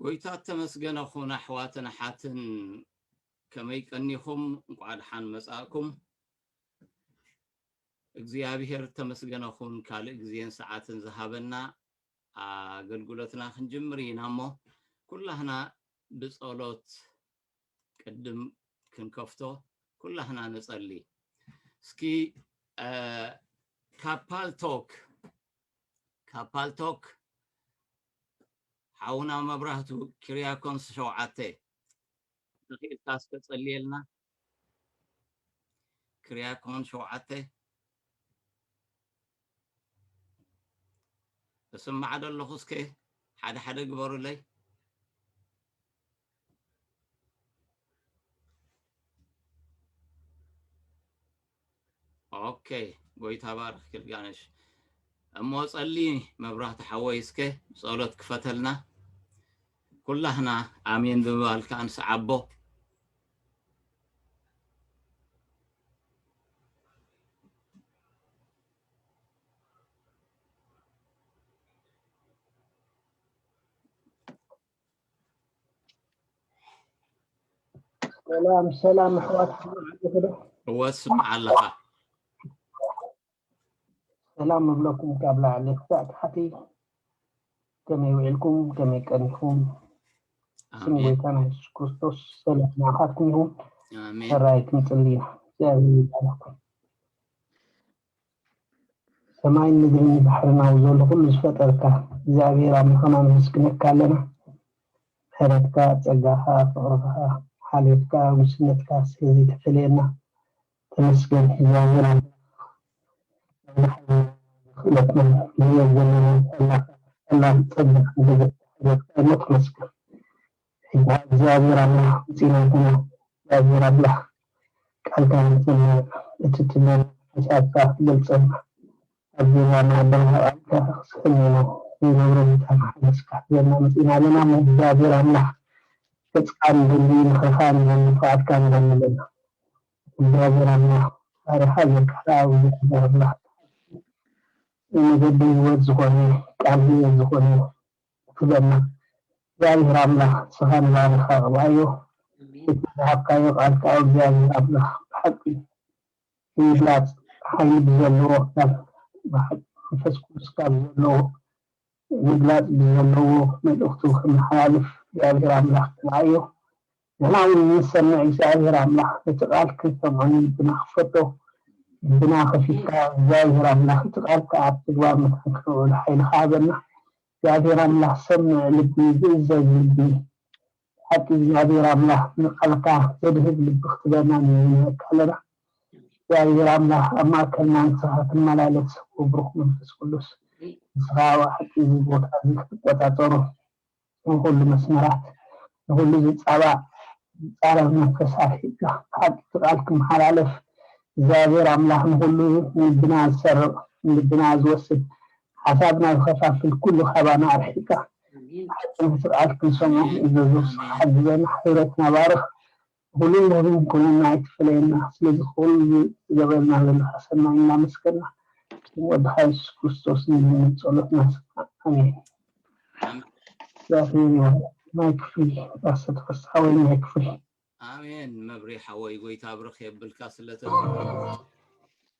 ጎይታ እተመስገነ ኹን ኣሕዋትን ኣሓትን ከመይ ቀኒኹም እንቋዕ ድሓን መጻእኩም እግዚኣብሄር እተመስገነ ኹን ካልእ ግዜን ሰዓትን ዝሃበና ኣገልግሎትና ክንጅምር ኢና እሞ ኩላህና ብጸሎት ቅድም ክንከፍቶ ኩላህና ንጸሊ እስኪ ካብ ፓልቶክ ካብ ፓልቶክ ሓውና መብራህቱ ኪርያኮንስ ሸውዓተ ተኽኢልካ እስከ ጸልየልና ክሪያኮን ሸውዓተ እስማዕ ደለኹ እስከ ሓደ ሓደ ግበሩለይ ኦኬ ጎይታ ባርክ ክልጋነሽ እሞ ጸሊ መብራህቲ ሓወይ እስከ ጸሎት ክፈተልና ኩላህና ኣሜን ብምባል ከዓ ንስዓቦ ሰላም ሰላም ኣሕዋት እወ ስማዕ ኣለኻ ሰላም እብለኩም ካብ ላዕሊ ክሳዕ ታሕቲ ከመይ ውዒልኩም ከመይ ቀኒኹም ስም ጎይታና የሱስ ክርስቶስ ሰላም ንዓኻትኩም ይኹን ሰራይ ክንጽሊ ኢና እግዚኣብሔር ይባርኽኩም ሰማይን ምድርን ንባሕርን ኣውዘሉ ኩሉ ዝፈጠርካ እግዚኣብሔር ኣምላክና ነመስግነካ ኣለና ምሕረትካ ጸጋካ ፍቅርካ ሓልዮትካ ጉስነትካ ስለ ዘይተፈለየና ተመስገን እግዚኣብሔር ኣምላክ ነዚ ሓይልናን ክእለትናን ንርእዮ ዘለና ጸላካ ጸላም ጸጋካ ደገፍካ ሓገዝካ እሞ ተመስገን። እባ እግዚኣብሔር ኣምላክ ምፂናትና እግዚኣብሔር ኣምላክ ቃልካ የምፀልና እቲ ትብለና ሓሳብካ ክገልፀልና ኣብ ገዛ ማዕዳና ቃልካ ክስሕበና ዘይነብሮ ቦታ ንሓድስ ክሕዘና መፂና ኣለና እሞ እግዚኣብሔር ኣምላክ ገፅካ ንደሊ ምክርካ ንደሊ ንፍቃድካ ንደሊ ኣለና እግዚኣብሔር ኣምላክ ፈጣሪ ሃገር ካልኣዊ ዝኮነ ኣምላክ እቲ ሓቂ ንመገዲ ህይወት ዝኮነ ቃል ህይወት ዝኮነ ክብለና እግዚኣብሔር ኣምላክ ንስካ ንባርያካ ቅብኣዮ እቲ ዝሃብካዮ ቃል ክኣ እግዚኣብሔር ኣምላክ ብሓቂ ንምግላጽ ሓይሊ ብዘለዎ ናብ ብሓቂ መንፈስ ቅዱስካ ብዘለዎ ምግላጽ ብዘለዎ መልእክቱ ከመሓላልፍ እግዚኣብሔር ኣምላክ ቅብኣዮ ንሕና እውን ንሰምዕ እግዚኣብሔር ኣምላክ ነቲ ቃል ክንሰምዖ ንልብና ክፈቶ ልብና ከፊትካ እግዚኣብሔር ኣምላክ እቲ ቃልካ ኣብ ተግባር መታን ክነውዕሎ ሓይልካ ሃበና እግዚኣብሔር ኣምላክ ሰምዕ ልቢ ዝእዘዝ ልቢ ብሓቂ እግዚኣብሔር ኣምላክ ንቃልካ ዘድህብ ልቢ ክትህበና ንልምነካ ኣለና እግዚኣብሔር ኣምላክ ኣብ ማእከልና ንስካ ትመላለስ ወብሩክ መንፈስ ቅዱስ ንስካ ብሓቂ እዚ ቦታ እዚ ክትቆጻጸሮ ንኹሉ መስመራት ንኹሉ ዝጻባእ ዝጻረር መንፈስ ኣርሒቅካ ሓቂ ቃል ክመሓላለፍ እግዚኣብሔር ኣምላኽ ንኹሉ ንልብና ዝሰርቅ ንልብና ዝወስድ ሓሳብና ዝኸፋፍል ኩሉ ካባና ኣርሒቅካ ሓቂ ናይቲ ቃል ክንሰምዖ ክንእዘዞ ንስኻ ሓግዘና ሕብረትና ባርኽ ብኹሉ ንኹሉ ኩልና ኣይትፈለየና ስለዚኹሉ ዝገብረልና ዘለኻ ሰናይ እናመስገና ብስም ወድኻ የሱስ ክርስቶስ ንልምን ጸሎትና ስማዕ ኣሜን። እግዚኣብሔር ይባርክ ናይ ክፍሊ ፓስተር ተፈስሓ ወይ ናይ ክፍሊ። ኣሜን መብሬ ሓወይ ጎይታ ብርኽ የብልካ ስለተዝህብና።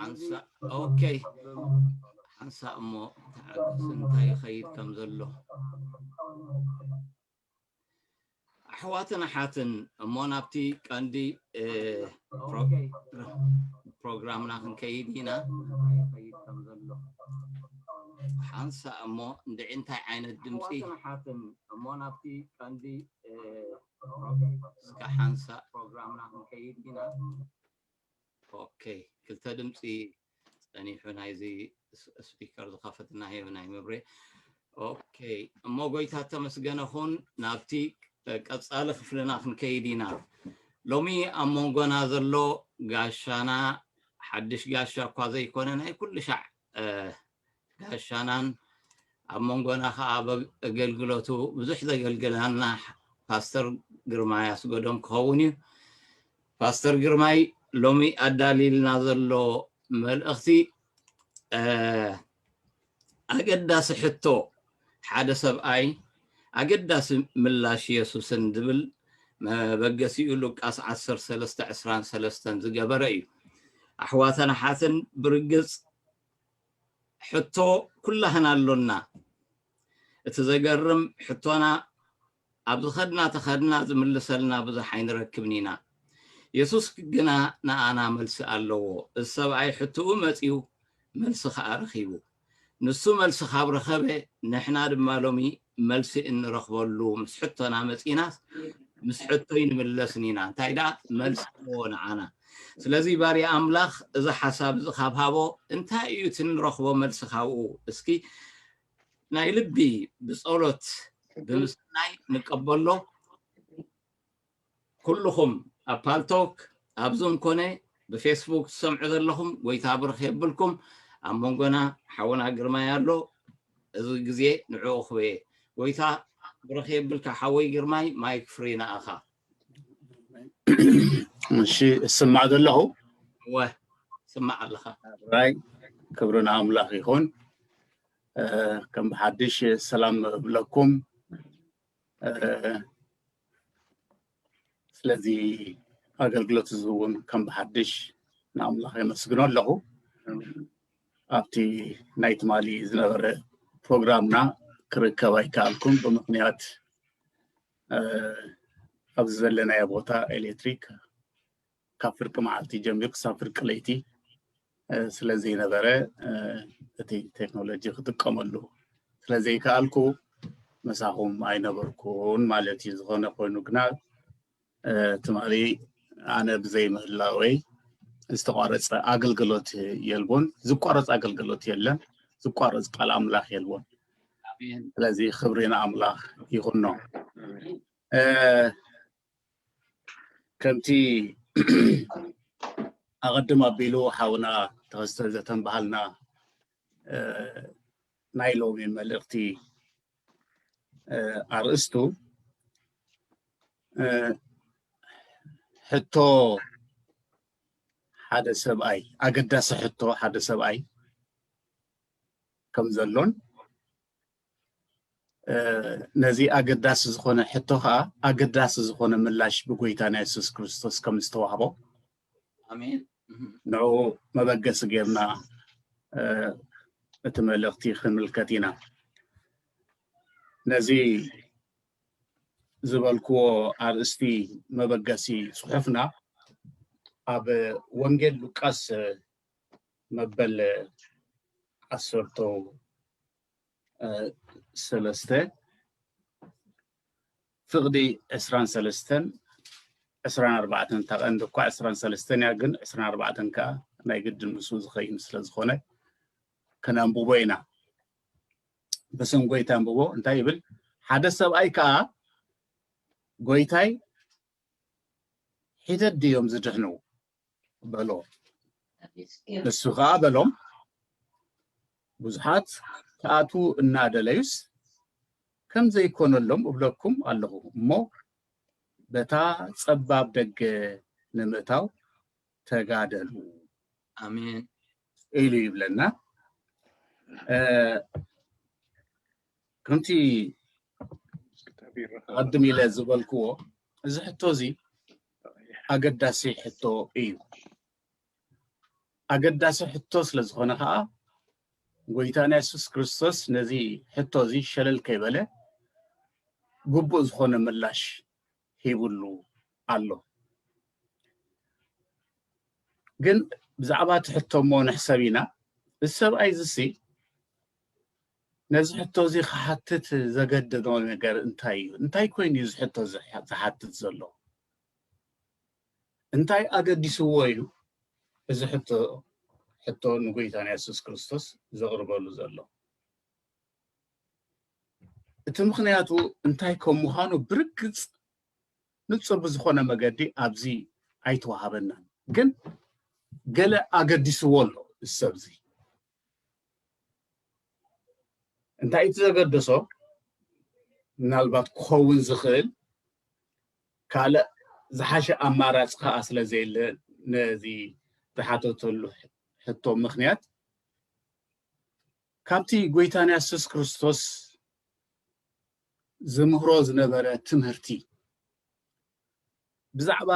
ሓንሳእ ኦኬ ሓንሳእ እሞ ተዓገስ እንታይ ይኸይድ ከም ዘሎ ኣሕዋትን ኣሓትን እሞ ናብቲ ቀንዲ ፕሮግራምና ክንከይድ ኢና ሓንሳእ እሞ እንድዒ እንታይ ዓይነት ድምፂ እስካ ሓንሳእ ፕሮግራምና ክንከይድ ኢና ኦከይ ክልተ ድምፂ ፀኒሑ ናይዚ ስፒከር ዝኸፈትና ህየው ናይ መብሬ ኦከይ እሞ ጎይታ ተመስገነ ኹን ናብቲ ቀፃሊ ክፍልና ክንከይድ ኢና ሎሚ ኣብ መንጎና ዘሎ ጋሻና ሓድሽ ጋሻ እኳ ዘይኮነ ናይ ኩሉ ሻዕ ጋሻናን ኣብ መንጎና ከዓ ኣብ ኣገልግሎቱ ብዙሕ ዘገልግላና ፓስተር ግርማይ ኣስገዶም ክኸውን እዩ ፓስተር ግርማይ ሎሚ ኣዳሊልና ዘሎ መልእኽቲ ኣገዳሲ ሕቶ ሓደ ሰብኣይ ኣገዳሲ ምላሽ የሱስን ዝብል መበገሲኡ ሉቃስ ዓሰርተ ሰለስተ ዕስራን ሰለስተን ዝገበረ እዩ። ኣሕዋትን ኣሓትን ብርግጽ ሕቶ ኩላህና ኣሎና። እቲ ዘገርም ሕቶና ኣብ ዝኸድና ተኸድና ዝምልሰልና ብዙሕ ኣይንረክብን ኢና። የሱስ ግና ንኣና መልሲ ኣለዎ። እዚ ሰብኣይ ሕትኡ መጺኡ መልሲ ከኣ ረኺቡ። ንሱ መልሲ ካብ ረኸበ ንሕና ድማ ሎሚ መልሲ እንረኽበሉ ምስ ሕቶና መጺእናስ ምስ ሕቶ ኣይንምለስን ኢና። እንታይ ደኣ መልሲ ኣለዎ ንዓና። ስለዚ ባርያ ኣምላኽ እዚ ሓሳብ እዚ ካብ ሃቦ እንታይ እዩ እቲ እንረኽቦ መልሲ ካብኡ? እስኪ ናይ ልቢ ብጸሎት ብምስናይ ንቀበሎ ኩልኹም ኣብ ፓልቶክ ኣብ ዙም ኮነ ብፌስቡክ ትሰምዑ ዘለኹም ጎይታ ብርኽ የብልኩም ኣብ መንጎና ሓውና ግርማይ ኣሎ እዚ ግዜ ንዕኡ ክበየ ጎይታ ብርኽ የብልካ ሓወይ ግርማይ ማይክ ፍሪ ንኣኻ እሺ እስማዕ ዘለኹ እወ ስማዕ ኣለኻ ራይ ክብሪ ንኣምላኽ ይኹን እ፣ ከም ብሓድሽ ሰላም እብለኩም እ፣ ስለዚ ኣገልግሎት እዚ እውን ከም ብሓድሽ ንኣምላኽ የመስግኖ ኣለኹ ኣብቲ ናይ ትማሊ ዝነበረ ፕሮግራምና ክርከብ ኣይከኣልኩም ብምክንያት ኣብዚ ዘለናዮ ቦታ ኤሌክትሪክ ካብ ፍርቂ መዓልቲ ጀሚሩ ክሳብ ፍርቂ ለይቲ ስለ ዘይነበረ እቲ ቴክኖሎጂ ክጥቀመሉ ስለ ዘይከኣልኩ መሳኹም ኣይነበርኩን ማለት እዩ ዝኾነ ኮይኑ ግና ትማሊ ኣነ ብዘይምህላወይ ዝተቋረፀ ኣገልግሎት የልቦን ዝቋረፅ ኣገልግሎት የለን ዝቋረፅ ቃል ኣምላኽ የልቦን ስለዚ ክብሪ ንኣምላኽ ይኹኖ ከምቲ ኣቐድም ኣቢሉ ሓውና ተኸስተ ዘተንበሃልና ናይ ሎሚ መልእኽቲ ኣርእስቱ ሕቶ ሓደ ሰብኣይ ኣገዳሲ ሕቶ ሓደ ሰብኣይ ከም ዘሎን ነዚ ኣገዳሲ ዝኾነ ሕቶ ከዓ ኣገዳሲ ዝኾነ ምላሽ ብጎይታና የሱስ ክርስቶስ ከም ዝተዋህቦ ንዑ መበገሲ ጌርና እቲ መልእኽቲ ክንምልከት ኢና ነዚ ዝበልክዎ ኣርእስቲ መበገሲ ፅሑፍና ኣብ ወንጌል ሉቃስ መበል ዓሰርተ ሰለስተ ፍቕዲ ዕስራን ሰለስተን ዕስራን ኣርባዕተን እታ ቀንዲ እኳ ዕስራን ሰለስተን እያ ግን ዕስራን ኣርባዕተን ከዓ ናይ ግዲ ምስኡ ዝኸይን ስለ ዝኾነ ከነንብቦ ኢና ብስም ጎይታ ኣንብቦ እንታይ ይብል ሓደ ሰብኣይ ከዓ ጎይታይ ሒደት ድዮም ዝድሕኑ በሎ ንሱ ከዓ በሎም ብዙሓት ክኣትዉ እናደለዩስ ከም ዘይኮነሎም እብለኩም ኣለኹ እሞ በታ ጸባብ ደገ ንምእታው ተጋደሉ ኣሜን ኢሉ ይብለና እ፣ ከምቲ ኣድም ኢለ ዝበልክዎ እዚ ሕቶ እዚ ኣገዳሲ ሕቶ እዩ። ኣገዳሲ ሕቶ ስለ ዝኾነ ከዓ ጎይታና የሱስ ክርስቶስ ነዚ ሕቶ እዚ ሸለል ከይበለ ግቡእ ዝኾነ ምላሽ ሂብሉ ኣሎ። ግን ብዛዕባ እቲ ሕቶ እሞ ንሕሰብ ኢና። እዚ ሰብኣይ እዚሲ ነዚ ሕቶ እዚ ክሓትት ዘገደዶ ነገር እንታይ እዩ? እንታይ ኮይኑ እዩ እዚ ሕቶ ዝሓትት ዘሎ? እንታይ ኣገዲስዎ እዩ እዚ ሕቶ ሕቶ ንጎይታና የሱስ ክርስቶስ ዘቕርበሉ ዘሎ? እቲ ምኽንያቱ እንታይ ከም ምዃኑ ብርግጽ ንጹር ብዝኾነ መገዲ ኣብዚ ኣይተዋሃበናን። ግን ገለ ኣገዲስዎ ኣሎ እዚ ሰብ እዚ። እንታይ እቲ ዘገደሶ ምናልባት ክኸውን ዝኽእል ካልእ ዝሓሸ ኣማራፂ ከዓ ስለዘየለ ነዚ ዝሓተተሉ ሕቶ ምክንያት ካብቲ ጎይታና የሱስ ክርስቶስ ዝምህሮ ዝነበረ ትምህርቲ ብዛዕባ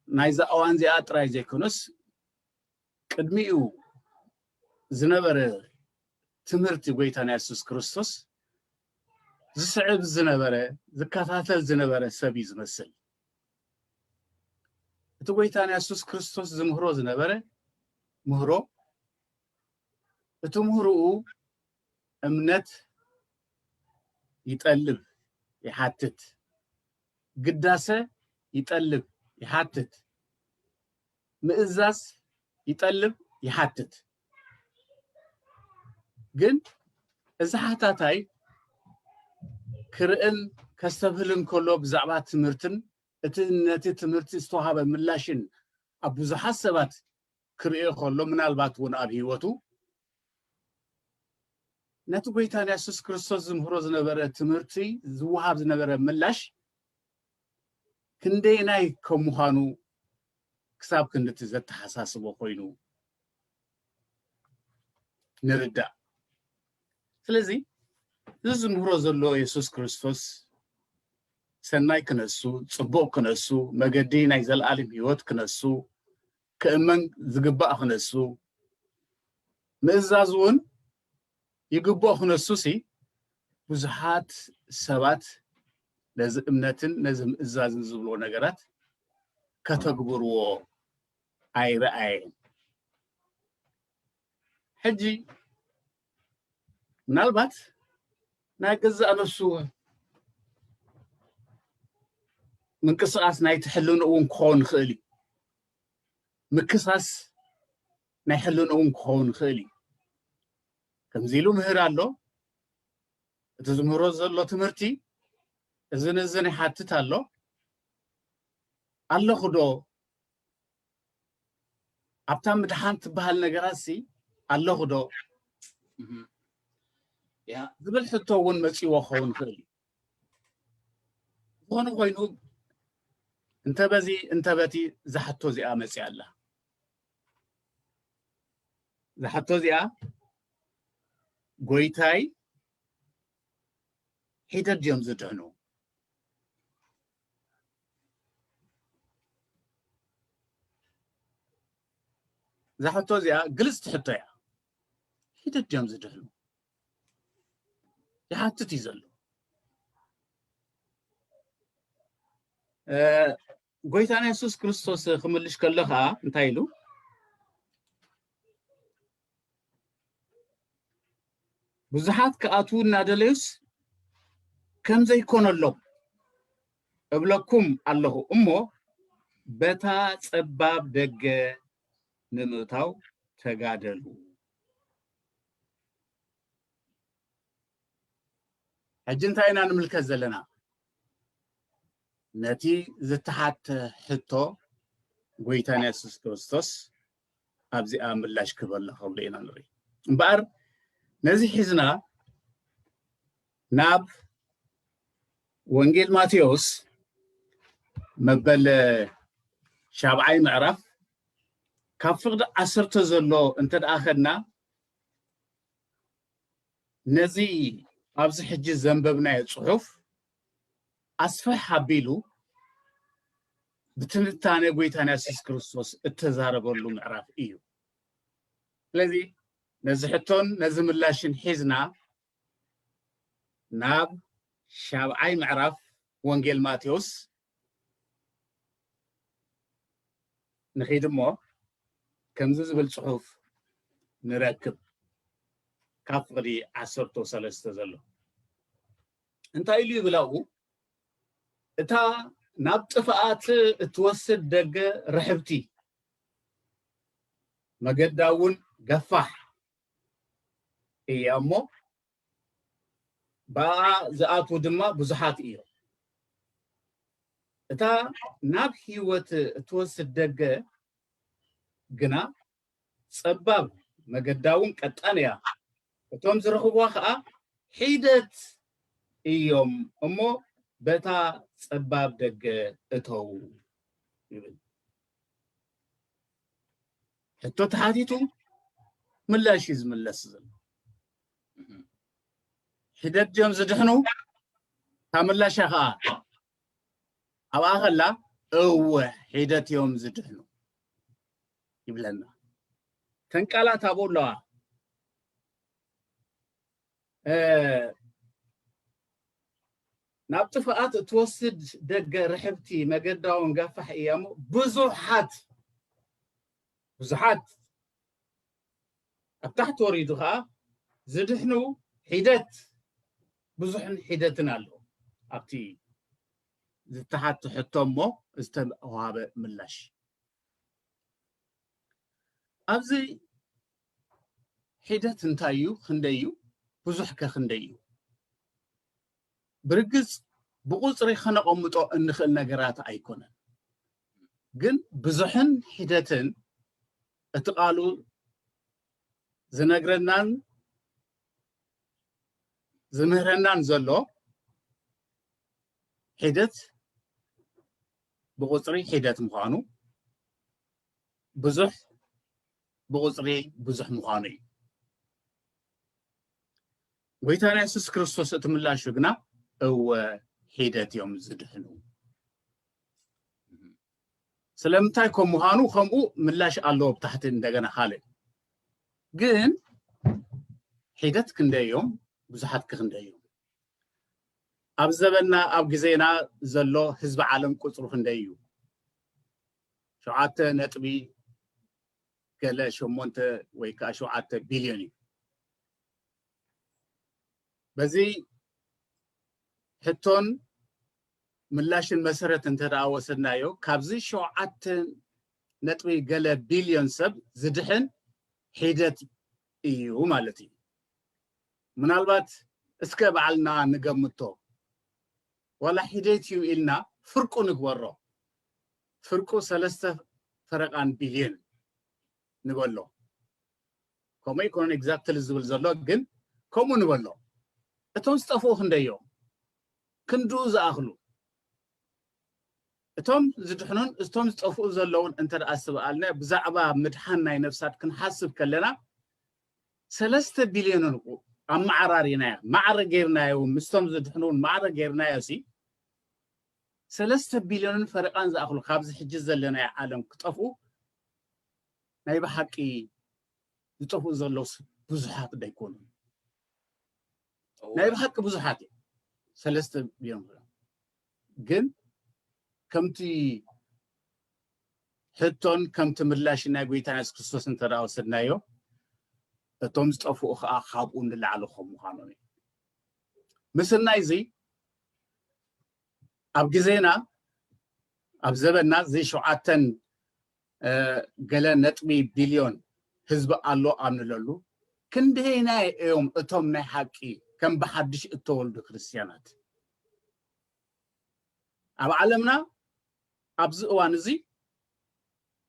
ናይዛ እዋን እዚኣ ጥራይ ዘይኮነስ ቅድሚኡ ዝነበረ ትምህርቲ ጎይታና የሱስ ክርስቶስ ዝስዕብ ዝነበረ ዝከታተል ዝነበረ ሰብ እዩ ዝመስል እቲ ጎይታና የሱስ ክርስቶስ ዝምህሮ ዝነበረ ምህሮ እቲ ምህርኡ እምነት ይጠልብ ይሓትት ግዳሰ ይጠልብ ይሓትት ምእዛዝ ይጠልብ ይሓትት ግን እዚ ሓታታይ ክርእን ከስተብህልን ከሎ ብዛዕባ ትምህርትን እቲ ነቲ ትምህርቲ ዝተዋሃበ ምላሽን ኣብ ብዙሓት ሰባት ክርእዮ ከሎ ምናልባት እውን ኣብ ህይወቱ ነቲ ጎይታ የሱስ ክርስቶስ ዝምህሮ ዝነበረ ትምህርቲ ዝወሃብ ዝነበረ ምላሽ ክንደየናይ ከም ምዃኑ ክሳብ ክንድቲ ዘተሓሳስቦ ኮይኑ ንርዳእ ስለዚ እዚ ዝምህሮ ዘሎ የሱስ ክርስቶስ ሰናይ ክነሱ ፅቡቅ ክነሱ መገዲ ናይ ዘለኣለም ህይወት ክነሱ ክእመን ዝግባእ ክነሱ ምእዛዝ እውን ይግብኦ ክነሱሲ ብዙሓት ሰባት ነዚ እምነትን ነዚ ምእዛዝን ዝብልዎ ነገራት ከተግብርዎ ኣይረኣየን ሕጂ ምናልባት ናይ ገዛእ ነሱ ምንቅስቃስ ናይቲ ሕልንኡ እውን ክኸውን ይኽእል እዩ ምክሳስ ናይ ሕልንኡ እውን ክኸውን ይኽእል እዩ ከምዚ ኢሉ ምህር ኣሎ እቲ ዝምህሮ ዘሎ ትምህርቲ እዚ ንእዝን ይሓትት ኣሎ ኣለኹ ዶ ኣብታ ምድሓን ትበሃል ነገራት ሲ ኣለኹ ዶ ዝብል ሕቶ እውን መፂዎ ክኸውን ይኽእል እዩ ዝኾነ ኮይኑ እንተ በዚ እንተ በቲ ዝሓቶ እዚኣ መፅኣ ኣላ እዛ ሕቶ እዚኣ ጎይታይ ሒደት ድዮም ዝድሕኑ እዛ ሕቶ እዚኣ ግልፅቲ ሕቶ እያ ሒደት ድዮም ዝድሕኑ ይሓትት እዩ ዘሎ ጎይታና የሱስ ክርስቶስ ክምልሽ ከሎ ከኣ እንታይ ኢሉ? ብዙሓት ክኣትዉ እናደለዩስ ከም ዘይኮነሎም እብለኩም ኣለኹ እሞ በታ ጸባብ ደገ ንምእታው ተጋደሉ። ሕጂ እንታይ ኢና ንምልከት ዘለና? ነቲ ዝተሓተ ሕቶ ጎይታና የሱስ ክርስቶስ ኣብዚኣ ምላሽ ክህበላ ከሎ ኢና ንርኢ እምበኣር ነዚ ሒዝና ናብ ወንጌል ማቴዎስ መበል ሻብዓይ ምዕራፍ ካብ ፍቅዲ ዓሰርተ ዘሎ እንተ ደኣ ከድና ነዚ ኣብዚ ሕጂ ዘንበብናዮ ፅሑፍ ኣስፍሕ ኣቢሉ ብትንታነ ጎይታና የሱስ ክርስቶስ እተዛረበሉ ምዕራፍ እዩ። ስለዚ ነዚ ሕቶን ነዚ ምላሽን ሒዝና ናብ ሻብዓይ ምዕራፍ ወንጌል ማቴዎስ ንኺድ እሞ ከምዚ ዝብል ጽሑፍ ንረክብ ካብ ፍቕዲ ዓሰርተ ሰለስተ ዘሎ እንታይ ኢሉ ይብል ኣብኡ እታ ናብ ጥፍኣት እትወስድ ደገ ርሕብቲ መገዳ እውን ገፋሕ እያ እሞ ብኣ ዝኣትዉ ድማ ብዙሓት እዮም እታ ናብ ህይወት እትወስድ ደገ ግና ጸባብ መገዳውን ቀጣን እያ፣ እቶም ዝረኽብዋ ከኣ ሒደት እዮም እሞ በታ ጸባብ ደገ እተዉ ይብል። ሕቶ ተሓቲቱ ምላሽ እዩ ዝምለስ ዘሎ። ሒደት ድዮም ዝድሕኑ? እታ ምላሻ ከኣ ኣብኣ ከላ እወ ሒደት እዮም ዝድሕኑ። ይብለና ተን ቃላት ኣብኡ ኣለዋ ናብ ጥፍኣት እትወስድ ደገ ርሕብቲ መገዳውን ጋፋሕ እያ እሞ ብዙሓት ብዙሓት ኣብ ታሕቲ ወሪዱ ከዓ ዝድሕኑ ሒደት ብዙሕን ሒደትን ኣሎ ኣብቲ ዝተሓቶ ሕቶ እሞ ዝተዋሃበ ምላሽ ኣብዚ ሒደት እንታይ እዩ ክንደይ እዩ ብዙሕ ከ ክንደይ እዩ ብርግፅ ብቁፅሪ ከነቐምጦ እንኽእል ነገራት ኣይኮነን ግን ብዙሕን ሒደትን እቲ ቃሉ ዝነግረናን ዝምህረናን ዘሎ ሒደት ብቑፅሪ ሒደት ምዃኑ ብዙሕ ብቑፅሪ ብዙሕ ምዃኑ እዩ ጎይታና የሱስ ክርስቶስ እቲ ምላሹ ግና እወ ሒደት እዮም ዝድሕኑ ስለምንታይ ከም ምዃኑ ከምኡ ምላሽ ኣለዎ ብታሕቲ እንደገና ካልእ ግን ሒደት ክንደይ እዮም ብዙሓት ክንደይ እዮም ኣብ ዘበና ኣብ ግዜና ዘሎ ህዝቢ ዓለም ቁጽሩ ክንደይ እዩ? ሸውዓተ ነጥቢ ገለ ሸሞንተ ወይ ከዓ ሸውዓተ ቢልዮን እዩ። በዚ ሕቶን ምላሽን መሰረት እንተደኣ ወሰድናዮ ካብዚ ሸውዓተ ነጥቢ ገለ ቢልዮን ሰብ ዝድሕን ሒደት እዩ ማለት እዩ። ምናልባት እስከ ባዕልና ንገምቶ ዋላ ሒደት እዩ ኢልና ፍርቁ ንግበሮ ፍርቁ ሰለስተ ፈረቃን ቢልዮን ንበሎ ከምኡ ኣይኮነን ኤግዛክትሊ ዝብል ዘሎ ግን ከምኡ ንበሎ እቶም ዝጠፍኡ ክንደዮም ክንድኡ ዝኣኽሉ እቶም ዝድሕኑን እቶም ዝጠፍኡ ዘለውን እንተ ደኣ ስበኣልና ብዛዕባ ምድሓን ናይ ነፍሳት ክንሓስብ ከለና ሰለስተ ቢልዮን እንቁ ኣመዓራሪናዮ ማዕረ ገይርናዮ ምስቶም ዝድሕኑ ውን ማዕረ ገይርናዮ ሲ ሰለስተ ቢልዮንን ፈረቓን ዝኣኽሉ ካብዚ ሕጂ ዘለናዮ ዓለም ክጠፍኡ ናይ ብሓቂ ዝጠፍኡ ዘለውስ ብዙሓት ዶ ኣይኮኑን ናይ ብሓቂ ብዙሓት እዮም ሰለስተ ቢልዮን ግን ከምቲ ሕቶን ከምቲ ምላሽን ናይ ጎይታና የሱስ ክርስቶስ እንተ ወሰድናዮ እቶም ዝጠፍኡ ከዓ ካብኡ ንላዕሊ ከም ምዃኖም እዩ ምስናይ እዚ ኣብ ግዜና ኣብ ዘበና እዚ ሸውዓተን ገለ ነጥቢ ቢልዮን ህዝቢ ኣሎ ኣብ ንለሉ፣ ክንደየናይ እዮም እቶም ናይ ሓቂ ከም ብሓድሽ እተወልዱ ክርስትያናት? ኣብ ዓለምና ኣብዚ እዋን እዚ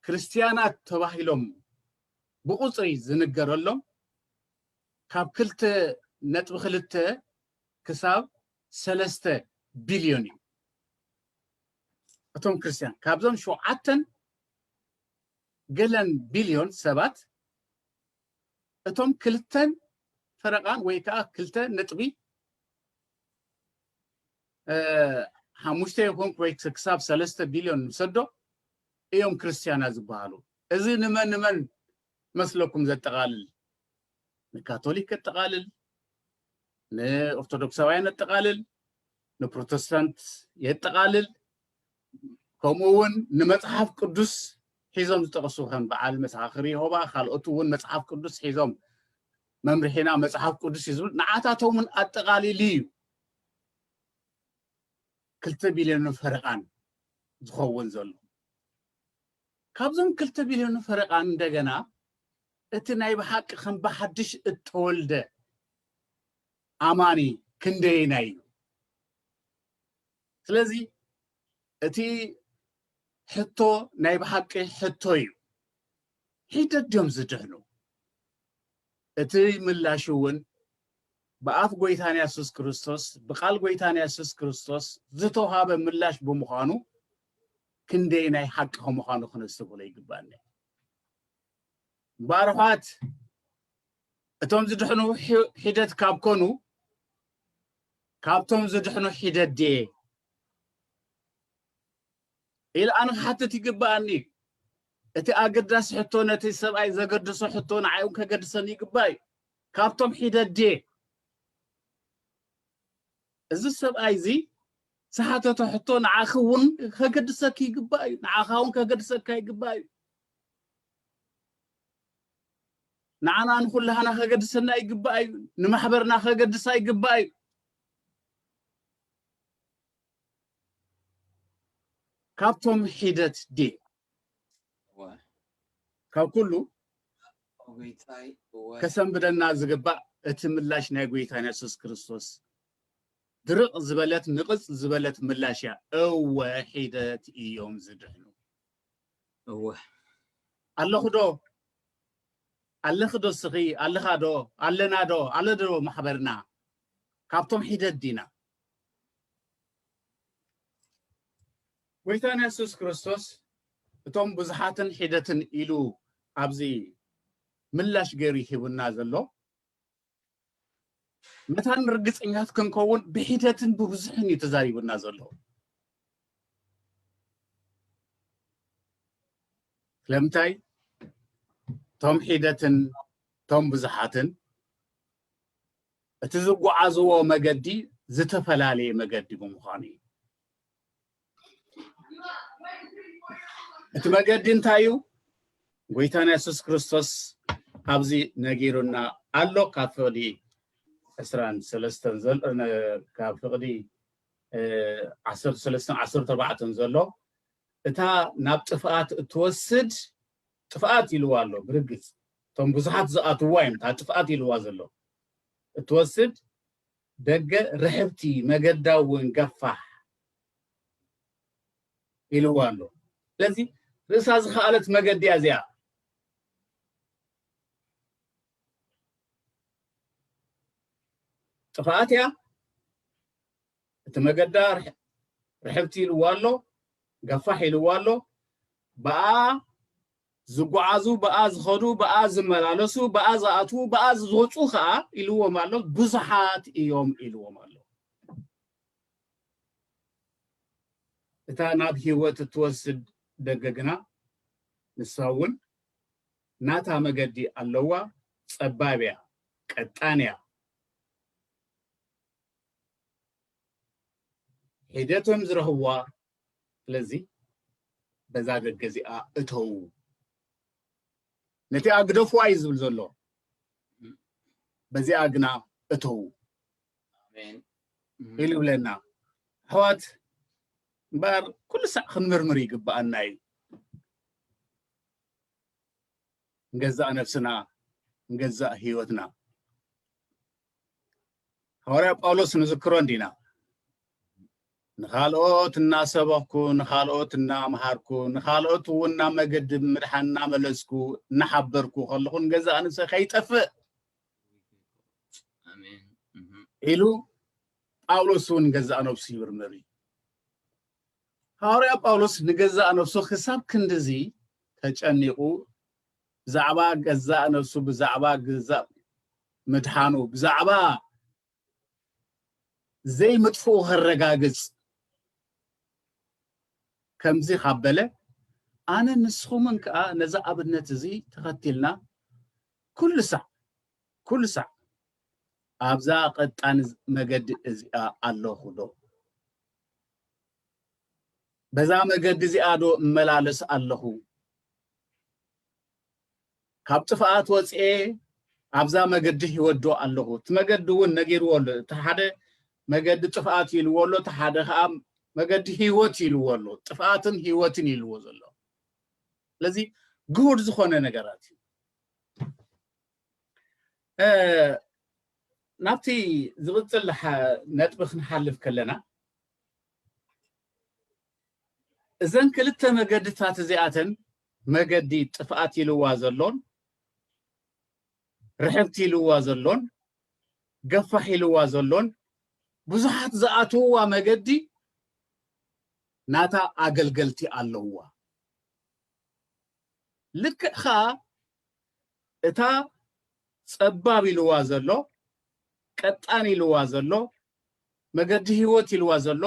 ክርስትያናት ተባሂሎም ብቑጽሪ ዝንገረሎም ካብ ክልተ ነጥቢ ክልተ ክሳብ ሰለስተ ቢልዮን እዩ። እቶም ክርስትያን ካብዞም ሸውዓተን ገለን ቢልዮን ሰባት እቶም ክልተን ፈረቓን ወይ ከዓ ክልተ ነጥቢ ሓሙሽተ ይኹን ወይ ክሳብ ሰለስተ ቢልዮን ንሰዶ እዮም ክርስትያና ዝበሃሉ እዚ ንመን ንመን መስለኩም ዘጠቃልል ንካቶሊክ የጠቃልል ንኦርቶዶክሳውያን የጠቃልል ንፕሮቴስታንት የጠቓልል ከምኡ እውን ንመፅሓፍ ቅዱስ ሒዞም ዝጠቕሱ ከም በዓል መሰኻኽር የሆባ ካልኦት እውን መፅሓፍ ቅዱስ ሒዞም መምርሒና መፅሓፍ ቅዱስ እዩ ዝብል ንዓታቶምን ኣጠቓሊሉ እዩ ክልተ ቢልዮንን ፈረቓን ዝኸውን ዘሎ ካብዞም ክልተ ቢልዮን ፈረቓን እንደገና እቲ ናይ ብሓቂ ከም ብሓድሽ እተወልደ ኣማኒ ክንደየናይ እዩ? ስለዚ እቲ ሕቶ ናይ ብሓቂ ሕቶ እዩ። ሒደት ድዮም ዝድሕኑ? እቲ ምላሽ እውን ብኣፍ ጎይታና የሱስ ክርስቶስ ብቃል ጎይታና የሱስ ክርስቶስ ዝተውሃበ ምላሽ ብምዃኑ ክንደየናይ ሓቂ ከምዃኑ ክነስተብህሎ ይግባእኒ። ባርዃት እቶም ዝድሕኑ ሒደት ካብ ኮኑ ካብቶም ዝድሕኑ ሒደት ድየ ኢል ኣነ ክሓትት ይግብኣኒ እዩ እቲ ኣገዳሲ ሕቶ ነቲ ሰብኣይ ዘገድሶ ሕቶ ንዓይ እውን ከገድሰኒ ይግባእ እዩ ካብቶም ሒደት ድየ እዚ ሰብኣይ እዚ ዝሓተቶ ሕቶ ንዓኺ እውን ከገድሰኪ ይግባእ እዩ ንዓኻ እውን ከገድሰካ ይግባእ እዩ ንዓና ንኹላህና ከገድሰና ይግባእ እዩ ንማሕበርና ከገድሳ ይግባእ እዩ ካብቶም ሒደት ዴ ካብ ኩሉ ከሰንብደና ዝግባእ እቲ ምላሽ ናይ ጎይታን የሱስ ክርስቶስ ድርቕ ዝበለት ንቕፅ ዝበለት ምላሽ እያ እወ ሒደት እዮም ዝድሕኑ እወ ኣለኹ ዶ ኣለኺ ዶ ስኺ ኣለኻ ዶ ኣለና ዶ ኣለ ዶ ማሕበርና ካብቶም ሒደት ዲና ጎይታና የሱስ ክርስቶስ እቶም ብዙሓትን ሒደትን ኢሉ ኣብዚ ምላሽ ገይሩ ሂቡና ዘሎ መታን ርግፀኛት ክንከውን ብሒደትን ብብዙሕን እዩ ተዛሪቡና ዘሎ ስለምንታይ እቶም ሒደትን እቶም ብዙሓትን እቲ ዝጓዓዝዎ መገዲ ዝተፈላለየ መገዲ ብምዃኑ እዩ እቲ መገዲ እንታይ እዩ? ጎይታና የሱስ ክርስቶስ ኣብዚ ነጊሩና ኣሎ ካብ ፍቕዲ ዕስራን ሰለስተን ካብ ፍቕዲ ዓሰርተ ሰለስተን ዓሰርተ ኣርባዕተን ዘሎ እታ ናብ ጥፍኣት እትወስድ ጥፍኣት ኢልዋ ኣሎ ብርግፅ እቶም ብዙሓት ዝኣትዋ እዮም እታ ጥፍኣት ኢልዋ ዘሎ እትወስድ ደገ ርሕብቲ መገዳ እውን ገፋሕ ኢልዋ ኣሎ። ስለዚ ርእሳ ዝኸኣለት መገዲ እያ እዚኣ። ጥፍኣት እያ። እቲ መገዳ ርሕብቲ ኢልዋ ኣሎ፣ ገፋሕ ኢልዋ ኣሎ። ብኣ ዝጉዓዙ ብኣ ዝኸዱ ብኣ ዝመላለሱ ብኣ ዝኣትዉ ብኣ ዝወጹ ከኣ ኢልዎም ኣሎ ብዙሓት እዮም ኢልዎም ኣሎ። እታ ናብ ህይወት እትወስድ ደገ ግና ንሳ እውን ናታ መገዲ ኣለዋ፣ ጸባብ እያ፣ ቀጣን እያ። ሒደቶም ዝረኽብዋ ስለዚ በዛ ደገ እዚኣ እተዉ ነቲኣ ግደፍዋ እዩ ዝብል ዘሎ በዚኣ ግና እተዉ ኢሉ ይብለና ኣሕዋት እምበር ኩሉ ሳዕ ክንምርምር ይግብኣና እዩ ንገዛእ ነብስና ንገዛእ ሂወትና ሃዋርያ ጳውሎስ ንዝክሮ እንዲና ንኻልኦት እናሰበኽኩ ንኻልኦት እናምሃርኩ ንኻልኦት እውን ናብ መገዲ ምድሓን እናመለስኩ እናሓበርኩ ከለኹ ንገዛእ ንሰ ከይጠፍእ ኢሉ ጳውሎስ እውን ገዛእ ነብሱ ይምርምር እዩ ሃዋርያ ጳውሎስ ንገዛእ ነብሱ ክሳብ ክንድዚ ተጨኒቑ ብዛዕባ ገዛእ ነብሱ ብዛዕባ ግዘ ምድሓኑ ብዛዕባ ዘይምጥፍኡ ከረጋግጽ ከምዚ ካብ በለ ኣነ ንስኹምን ከኣ ነዚ ኣብነት እዚ ተኸቲልና ኩሉ ሳዕ ኩሉ ሳዕ ኣብዛ ቀጣን መገዲ እዚኣ ኣለኹ ዶ በዛ መገዲ እዚኣ ዶ እመላለስ ኣለኹ ካብ ጥፍኣት ወፅኤ ኣብዛ መገዲ ህይወት ዶ ኣለኹ? እቲ መገዲ እውን ነጊርዎ ኣሎ። እቲ ሓደ መገዲ ጥፍኣት ኢልዎ ኣሎ፣ እቲ ሓደ ከዓ መገዲ ህይወት ኢልዎ ኣሎ። ጥፍኣትን ህይወትን ኢልዎ ዘሎ ስለዚ ግሁድ ዝኾነ ነገራት እዩ። ናብቲ ዝቕፅል ነጥቢ ክንሓልፍ ከለና እዘን ክልተ መገድታት እዚኣተን መገዲ ጥፍኣት ኢልዋ ዘሎን ርሕብቲ ኢልዋ ዘሎን ገፋሕ ኢልዋ ዘሎን ብዙሓት ዝኣትውዋ መገዲ ናታ ኣገልገልቲ ኣለውዋ ልክዕ ከዓ እታ ጸባብ ኢልዋ ዘሎ ቀጣን ኢልዋ ዘሎ መገዲ ሂወት ኢልዋ ዘሎ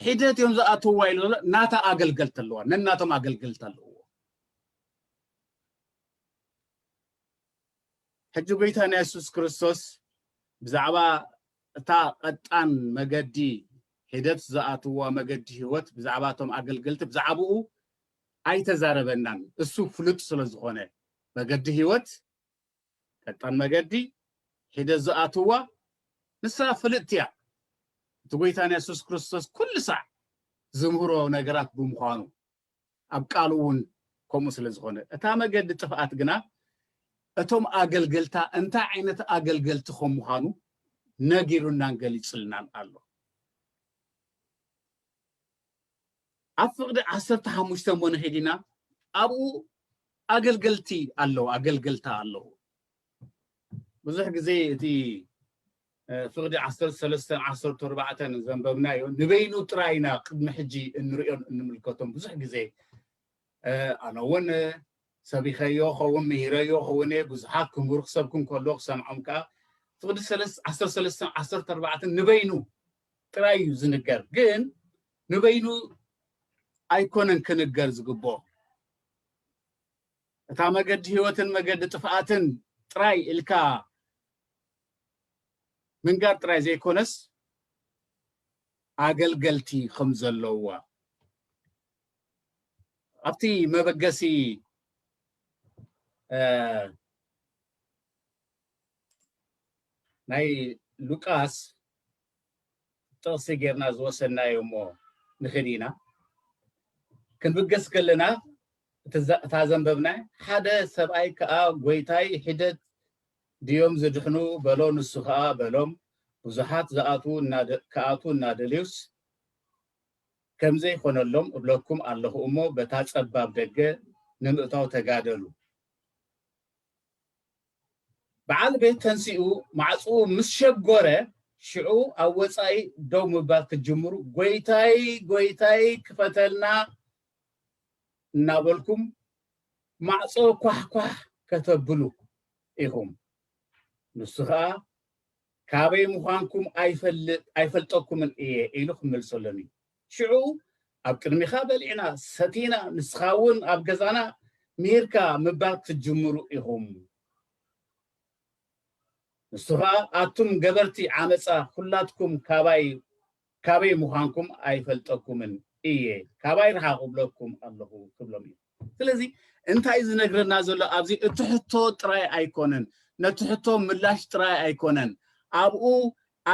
ሒደት እዮም ዝኣትውዋ ኢሉ ዘሎ ናታ ኣገልገልቲ ኣለዋ ነናቶም ኣገልገልቲ ኣለዎ ሕጂ ጎይታና የሱስ ክርስቶስ ብዛዕባ እታ ቀጣን መገዲ ሒደት ዝኣትዋ መገዲ ህይወት ብዛዕባ እቶም ኣገልገልቲ ብዛዕባኡ ኣይተዛረበናን እሱ ፍሉጥ ስለ ዝኾነ መገዲ ህይወት ቀጣን መገዲ ሒደት ዝኣትዋ ንሳ ፍልጥቲ እያ እቲ ጎይታና የሱስ ክርስቶስ ኩሉ ሳዕ ዝምህሮ ነገራት ብምዃኑ ኣብ ቃሉ እውን ከምኡ ስለ ዝኾነ እታ መገዲ ጥፍኣት ግና እቶም ኣገልገልታ እንታይ ዓይነት ኣገልገልቲ ከም ምዃኑ ነጊሩናን ገሊጹልናን ኣሎ ኣብ ፍቕዲ ዓሰርተ ሓሙሽተ እሞ ንኺድ ኢና፣ ኣብኡ ኣገልገልቲ ኣለዉ፣ ኣገልገልታ ኣለዉ። ብዙሕ ግዜ እቲ ፍቕዲ ዓሰርተ ሰለስተን ዓሰርተ ኣርባዕተን ዘንበብናዮ ንበይኑ ጥራይ ኢና ቅድሚ ሕጂ እንርእዮን እንምልከቶም ብዙሕ ግዜ ኣነ እውን ሰቢኸዮ ኸውን ምሂረዮ ኸውን እየ ብዙሓት ክምህሩ ክሰብኩ እንከሎ ክሰምዖም ከዓ ፍቕዲ ዓሰርተ ሰለስተን ዓሰርተ ኣርባዕተን ንበይኑ ጥራይ እዩ ዝንገር ግን ንበይኑ ኣይኮነን ክንገር ዝግብኦ እታ መገዲ ህይወትን መገዲ ጥፍኣትን ጥራይ ኢልካ ምንጋር ጥራይ ዘይኮነስ ኣገልገልቲ ከም ዘለዋ ኣብቲ መበገሲ ናይ ሉቃስ ጥቕሲ ጌርና ዝወሰድናዮ እሞ ንኺድ ኢና። ክንብገስ ከለና እታ ዘንበብና ሓደ ሰብኣይ ከኣ ጐይታይ ሒደት ድዮም ዝድሕኑ በሎ ንሱ ከኣ በሎም ብዙሓት ክኣትዉ እናደልዩስ ከምዘይኮነሎም እብለኩም ኣለኹ እሞ በታ ጸባብ ደገ ንምእታው ተጋደሉ። በዓል ቤት ተንሲኡ ማዕጽኡ ምስ ሸጎረ ሽዑ ኣብ ወጻኢ ደው ምባል ክትጅምሩ ጎይታይ ጎይታይ ክፈተልና እናበልኩም ማዕጾ ኳሕኳሕ ከተብሉ ኢኹም። ንሱ ከኣ ካበይ ምዃንኩም ኣይፈልጠኩምን እየ ኢሉ ክምልሰሎም እዩ። ሽዑ ኣብ ቅድሚኻ በሊዕና ሰቲና ንስኻ እውን ኣብ ገዛና ምሂርካ ምባል ክትጅምሩ ኢኹም። ንሱ ኸኣ ኣቱም ገበርቲ ዓመጻ ኹላትኩም ካባይ ካበይ ምዃንኩም ኣይፈልጠኩምን እየ ካባይ ርሓቑ እብለኩም ኣለኹ ክብሎም እዩ። ስለዚ እንታይ ዝነግረና ዘሎ ኣብዚ እቲ ሕቶ ጥራይ ኣይኮነን ነቲ ሕቶ ምላሽ ጥራይ ኣይኮነን ኣብኡ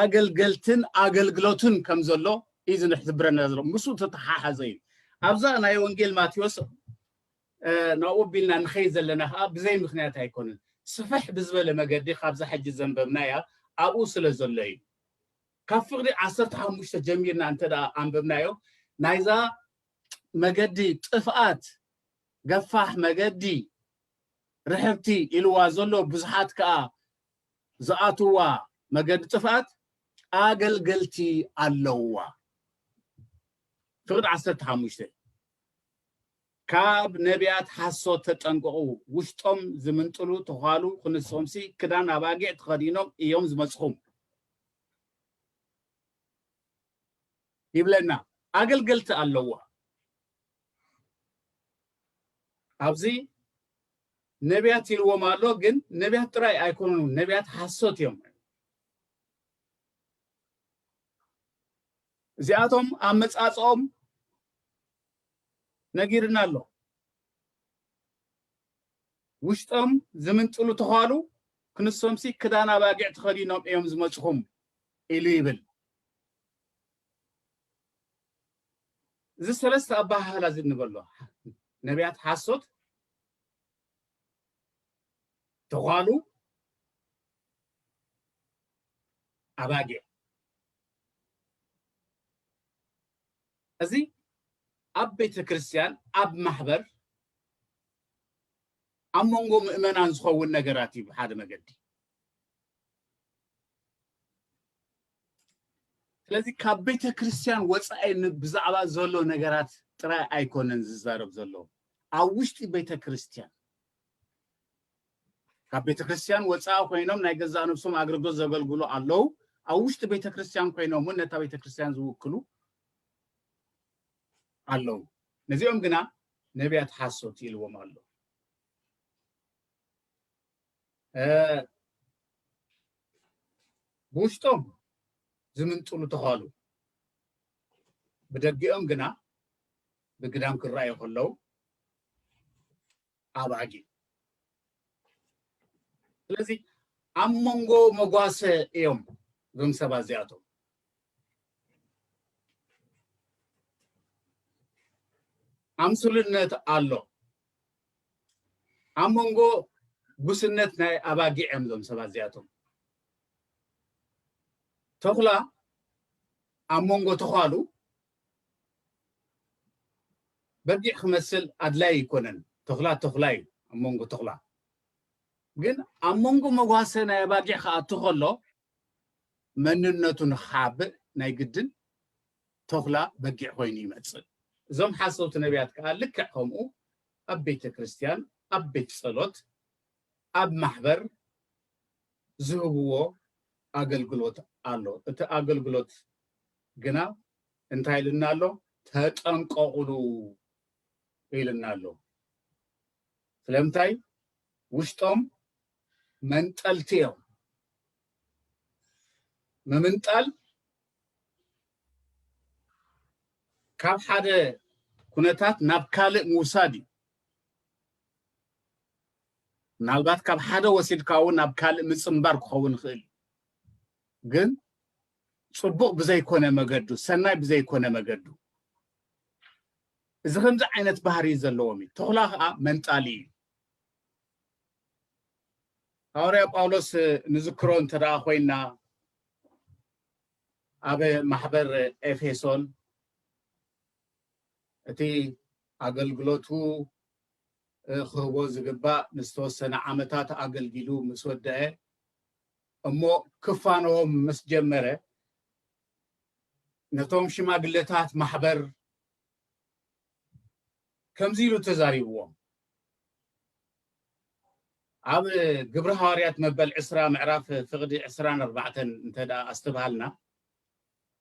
ኣገልገልትን ኣገልግሎትን ከም ዘሎ እዩ ዝሕብረና ዘሎ ምስኡ ተተሓሓዘ እዩ ኣብዛ ናይ ወንጌል ማቴዎስ ናብኡ ቢልና ንኸይ ዘለና ከዓ ብዘይ ምክንያት ኣይኮነን ስፍሕ ብዝበለ መገዲ ካብዛ ሕጂ ዘንበብናያ ኣብኡ ስለ ዘሎ እዩ ካብ ፍቕዲ ዓሰርተ ሓሙሽተ ጀሚርና እንተ ኣንበብናዮ ናይዛ መገዲ ጥፍኣት ገፋሕ መገዲ ርሕብቲ ኢልዋ ዘሎ ብዙሓት ከኣ ዝኣትዋ መገዲ ጥፍኣት ኣገልገልቲ ኣለዋ ፍቅድ ዓሰርተ ሓሙሽተ ካብ ነቢያት ሓሶት ተጠንቀቑ ውሽጦም ዝምንጥሉ ተዃሉ ክንሶምሲ ክዳን ኣባጊዕ ተኸዲኖም እዮም ዝመፅኹም ይብለና ኣገልገልቲ ኣለዋ ኣብዚ ነቢያት ኢልዎም ኣሎ ግን ነቢያት ጥራይ ኣይኮኑን ነቢያት ሓሶት እዮም እዚኣቶም ኣመጻጽኦም ነጊርና ኣሎ ውሽጦም ዝምንጥሉ ተዃሉ ክንሶምሲ ክዳን ኣባጊዕ ተኸዲኖም እዮም ዝመፅኹም ኢሉ ይብል እዚ ሰለስተ ኣበሃህላ እዚ ንበሎ ነቢያት ሓሶት ተዃሉ ኣባጊዕ እዚ ኣብ ቤተ ክርስቲያን ኣብ ማሕበር ኣብ መንጎ ምእመናን ዝኸውን ነገራት እዩ ብሓደ መገዲ ስለዚ ካብ ቤተ ክርስቲያን ወጻኢ ብዛዕባ ዘሎ ነገራት ጥራይ ኣይኮነን ዝዛረብ ዘሎ ኣብ ውሽጢ ቤተ ክርስቲያን ካብ ቤተ ክርስቲያን ወጻኢ ኮይኖም ናይ ገዛ ነብሶም ኣገልግሎት ዘገልግሉ ኣለዉ ኣብ ውሽጢ ቤተ ክርስቲያን ኮይኖም እውን ነታ ቤተ ክርስቲያን ዝውክሉ ኣለዉ ነዚኦም ግና ነቢያት ሓሶት ኢልዎም ኣሎ ብውሽጦም ዝምንጥሉ ተዃሉ ብደጊኦም ግና ብግዳም ክረኣዩ ከለዉ ኣባጊ ስለዚ ኣብ መንጎ መጓሰ እዮም እዞም ሰባት እዚኣቶም ኣምስልነት ኣሎ ኣብ መንጎ ጉስነት ናይ ኣባጊዕ እዮም እዞም ሰባት እዚኣቶም። ተኹላ ኣብ መንጎ ተዃሉ በጊዕ ክመስል ኣድላይ ኣይኮነን። ተኹላ ተኹላ እዩ ኣብ መንጎ ተኹላ ግን ኣብ መንጎ መጓሰ ናይ ኣባጊዕ ክኣቱ ከሎ መንነቱ ንክሓብእ ናይ ግድን ቶኽላ በጊዕ ኮይኑ ይመጽእ። እዞም ሓሰውቲ ነብያት ከኣ ልክዕ ከምኡ ኣብ ቤተ ክርስትያን ኣብ ቤት ጸሎት ኣብ ማሕበር ዝህብዎ ኣገልግሎት ኣሎ። እቲ ኣገልግሎት ግና እንታይ ኢሉና ኣሎ ተጠንቀቑሉ ኢሉና ኣሎ። ስለምንታይ ውሽጦም መንጠልቲ እዮም። ምምንጣል ካብ ሓደ ኩነታት ናብ ካልእ ምውሳድ እዩ ምናልባት ካብ ሓደ ወሲድካ እውን ናብ ካልእ ምፅምባር ክኸውን ይኽእል እዩ ግን ፅቡቕ ብዘይኮነ መገዱ ሰናይ ብዘይኮነ መገዱ እዚ ከምዚ ዓይነት ባህሪ ዘለዎም እዩ ተኽላ ከዓ መንጣሊ እዩ ሃዋርያ ጳውሎስ ንዝክሮ እንተ ኮይና ኣብ ማሕበር ኤፌሶን እቲ ኣገልግሎቱ ክህቦ ዝግባእ ንዝተወሰነ ዓመታት ኣገልጊሉ ምስ ወደአ እሞ ክፋነዎም ምስ ጀመረ ነቶም ሽማግለታት ማሕበር ከምዚ ኢሉ ተዛሪብዎም ኣብ ግብሪ ሃዋርያት መበል ዕስራ ምዕራፍ ፍቕዲ ዕስራን ኣርባዕተን እንተ ኣስተብሃልና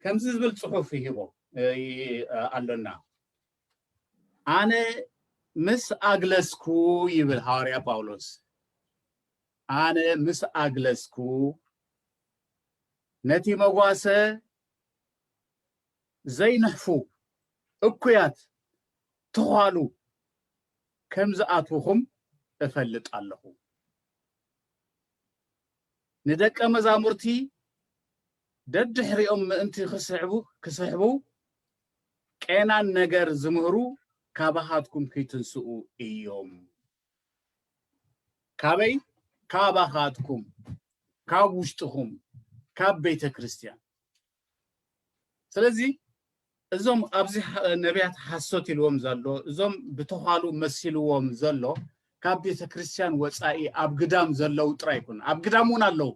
ከምዚ ዝብል ጽሑፍ ይሂቦ ኣሎና ኣነ ምስ ኣግለስኩ ይብል ሃዋርያ ጳውሎስ ኣነ ምስ ኣግለስኩ ነቲ መጓሰ ዘይንሕፉ እኩያት ትዃሉ ከም ዝኣትዉኹም እፈልጥ ኣለኹ። ንደቀ መዛሙርቲ ደድሕሪኦም ምእንቲ ክስሕቡ ክስሕቡ ቄናን ነገር ዝምህሩ ካባኻትኩም ክይትንስኡ እዮም። ካበይ? ካባኻትኩም፣ ካብ ውሽጥኹም፣ ካብ ቤተ ክርስቲያን። ስለዚ እዞም ኣብዚ ነቢያት ሓሶት ኢልዎም ዘሎ እዞም ብተዃሉ መሲልዎም ዘሎ ካብ ቤተ ክርስቲያን ወፃኢ ኣብ ግዳም ዘለው ጥራይ ይኩን ኣብ ግዳም እውን ኣለው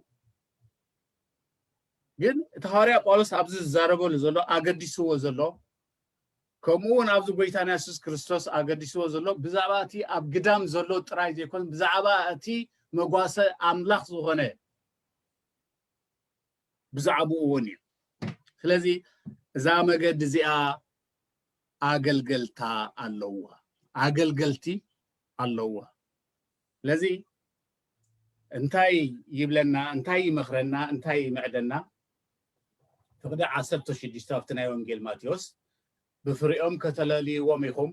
ግን እቲ ሃዋርያ ጳውሎስ ኣብዚ ዝዛረበሉ ዘሎ ኣገዲስዎ ዘሎ ከምኡ እውን ኣብዚ ጎይታና የሱስ ክርስቶስ ኣገዲስዎ ዘሎ ብዛዕባ እቲ ኣብ ግዳም ዘሎ ጥራይ ዘይኮን ብዛዕባ እቲ መጓሰ ኣምላኽ ዝኾነ ብዛዕባኡ እውን እዩ ስለዚ እዛ መገዲ እዚኣ ኣገልገልታ ኣለዋ ኣገልገልቲ ኣለዋ ስለዚ እንታይ ይብለና እንታይ ይመኽረና እንታይ ይምዕደና ፍቕዲ ዓሰርተ ሽዱሽተ ኣብቲ ናይ ወንጌል ማቴዎስ ብፍሪኦም ከተለልይዎም ኢኹም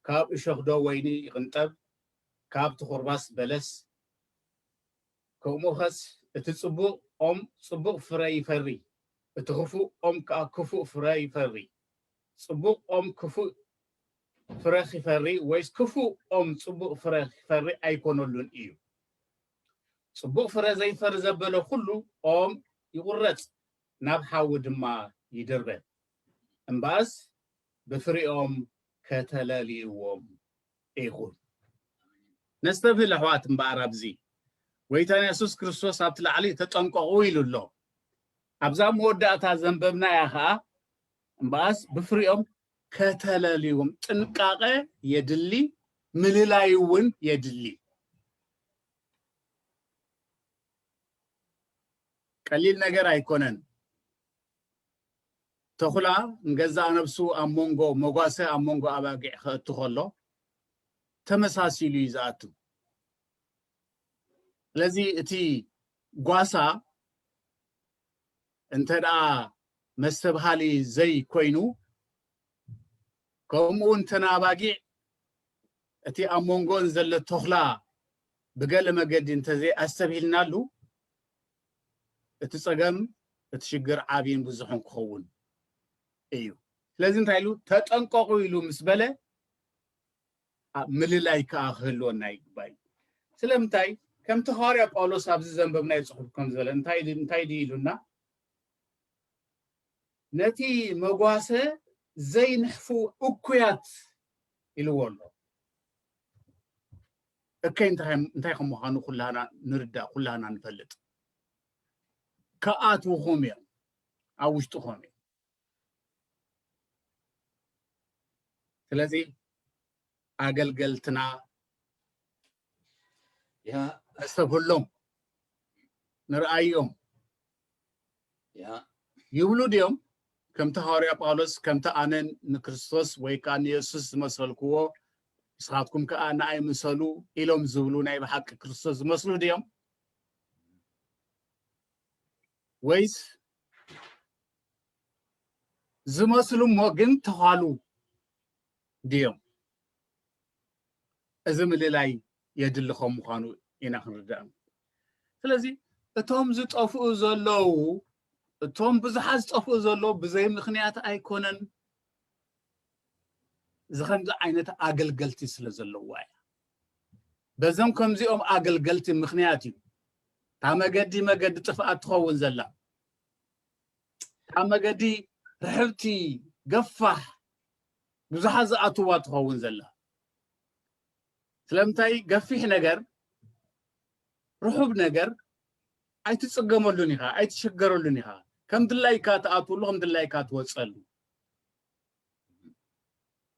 ካብ እሾኽዶ ወይኒ ይቕንጠብ ካብ ትኹርባስ በለስ ከምኡኸስ እቲ ጽቡቕ ኦም ጽቡቕ ፍረ ይፈሪ፣ እቲ ክፉእ ኦም ከኣ ክፉእ ፍረ ይፈሪ። ጽቡቕ ኦም ክፉእ ፍረ ኺፈሪ ወይስ ክፉእ ኦም ጽቡቕ ፍረ ኺፈሪ ኣይኰነሉን እዩ። ጽቡቕ ፍረ ዘይፈሪ ዘበለ ዅሉ ኦም ይቝረጽ፣ ናብ ሓዊ ድማ ይድርበ። እምበኣስ ብፍሪኦም ከተለልይዎም ኢኹም። ነስተብህል ኣሕዋት እምበኣር ኣብዚ፣ ጐይታና የሱስ ክርስቶስ ኣብቲ ላዕሊ ተጠንቀቑ ኢሉ ኣሎ። ኣብዛ ኣብ መወዳእታ ዘንበብናያ ኸኣ እምበኣስ ብፍሪኦም ከተለልዩዎም፣ ጥንቃቐ የድሊ፣ ምልላይ እውን የድሊ። ቀሊል ነገር ኣይኮነን። ተኹላ ንገዛእ ነብሱ ኣብ መንጎ መጓሰ ኣብ መንጎ ኣባጊዕ ከእቱ ከሎ ተመሳሲሉ እዩ ዝኣቱ። ስለዚ እቲ ጓሳ እንተ ደኣ መስተብሃሊ ዘይኮይኑ ከምኡ እውን እተን ኣባጊዕ እቲ ኣብ መንጎን ዘሎ ተኹላ ብገለ መገዲ እንተዘይኣስተብሂልናሉ እቲ ጸገም እቲ ሽግር ዓብይን ብዙሕን ክኸውን እዩ። ስለዚ እንታይ ኢሉ ተጠንቀቑ ኢሉ ምስ በለ ምልላይ ከኣ ክህልወና ይግባእ እዩ። ስለምንታይ ከምቲ ሃዋርያ ጳውሎስ ኣብዚ ዘንበብናዮ ጽሑፍ ከም ዝበለ እንታይ ድዩ ኢሉና ነቲ መጓሰ ዘይንሕፉ እኩያት ኢልዎ ኣሎ። እከይ እንታይ ከም ምዃኑ ኩላህና ንርዳእ ኩላህና ንፈልጥ ክኣትዉኹም እዮም ኣብ ውሽጥኹም እዩ ስለዚ ኣገልገልትና እሰብሎም ንርኣዮም ይብሉ ድዮም? ከምቲ ሃዋርያ ጳውሎስ ከምቲ ኣነ ንክርስቶስ ወይ ከኣ ንየሱስ ዝመሰልክዎ ንስኻትኩም ከኣ ንኣይ ምሰሉ ኢሎም ዝብሉ ናይ ብሓቂ ክርስቶስ ዝመስሉ ድዮም? ወይስ ዝመስሉ እሞ ግን ተዃሉ ድዮም? እዚ ምልላይ የድሊ ከም ምዃኑ ኢና ክንርዳእ። ስለዚ እቶም ዝጠፍኡ ዘለዉ እቶም ብዙሓት ዝጠፍኡ ዘለዉ ብዘይ ምኽንያት ኣይኮነን እዚ ከምዚ ዓይነት ኣገልገልቲ ስለ ዘለዋ እያ። በዞም ከምዚኦም ኣገልገልቲ ምክንያት እዩ እታ መገዲ መገዲ ጥፍኣት ትኸውን ዘላ እታ መገዲ ርሕብቲ ገፋሕ ብዙሓት ዝኣትዋ ትኸውን ዘላ ስለምንታይ ገፊሕ ነገር ርሑብ ነገር ኣይትጽገመሉን ኢኻ ኣይትሽገረሉን ኢኻ ከም ድላይካ ትኣትወሉ ከም ድላይካ ትወጸሉ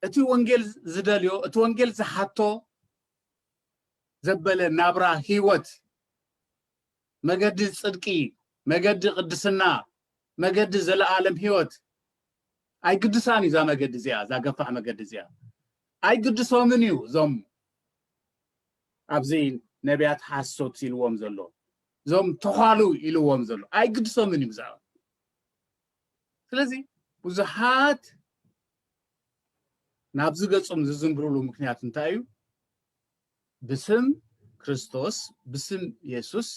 እቲ ወንጌል ዝደልዮ እቲ ወንጌል ዝሓቶ ዘበለ ናብራ ህይወት መገዲ ጽድቂ፣ መገዲ ቅድስና፣ መገዲ ዘለኣለም ህይወት ኣይግድሳን እዩ። እዛ መገዲ እዚኣ እዛ ገፋሕ መገዲ እዚኣ ኣይግድሶምን እዩ እዞም ኣብዚ ነቢያት ሓሶት ኢልዎም ዘሎ እዞም ተዃሉ ኢልዎም ዘሎ ኣይግድሶምን እዩ ብዛዕባ ስለዚ ብዙሓት ናብዚ ገጹም ዝዝምብርሉ ምክንያት እንታይ እዩ ብስም ክርስቶስ ብስም የሱስ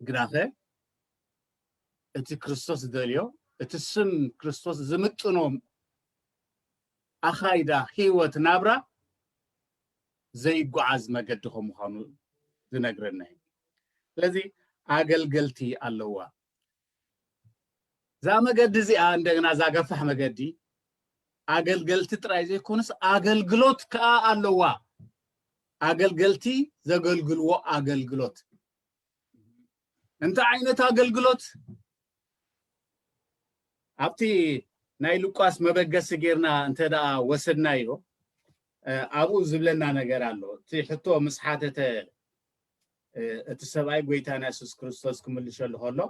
ግናኸ እቲ ክርስቶስ ዝደልዮ እቲ ስም ክርስቶስ ዝምጥኖ ኣኻይዳ ህይወት ናብራ ዘይጓዓዝ መገዲ ከም ምዃኑ ዝነግረና እዩ ስለዚ ኣገልገልቲ ኣለዋ እዛ መገዲ እዚኣ እንደገና እዛ ገፋሕ መገዲ ኣገልገልቲ ጥራይ ዘይኮነስ ኣገልግሎት ከዓ ኣለዋ ኣገልገልቲ ዘገልግልዎ ኣገልግሎት እንታይ ዓይነት ኣገልግሎት ኣብቲ ናይ ሉቃስ መበገሲ ጌርና እንተ ደኣ ወሰድናዮ ኣብኡ ዝብለና ነገር ኣሎ እቲ ሕቶ ምስ ሓተተ እቲ ሰብኣይ ጎይታና የሱስ ክርስቶስ ክምልሸሉ ከሎ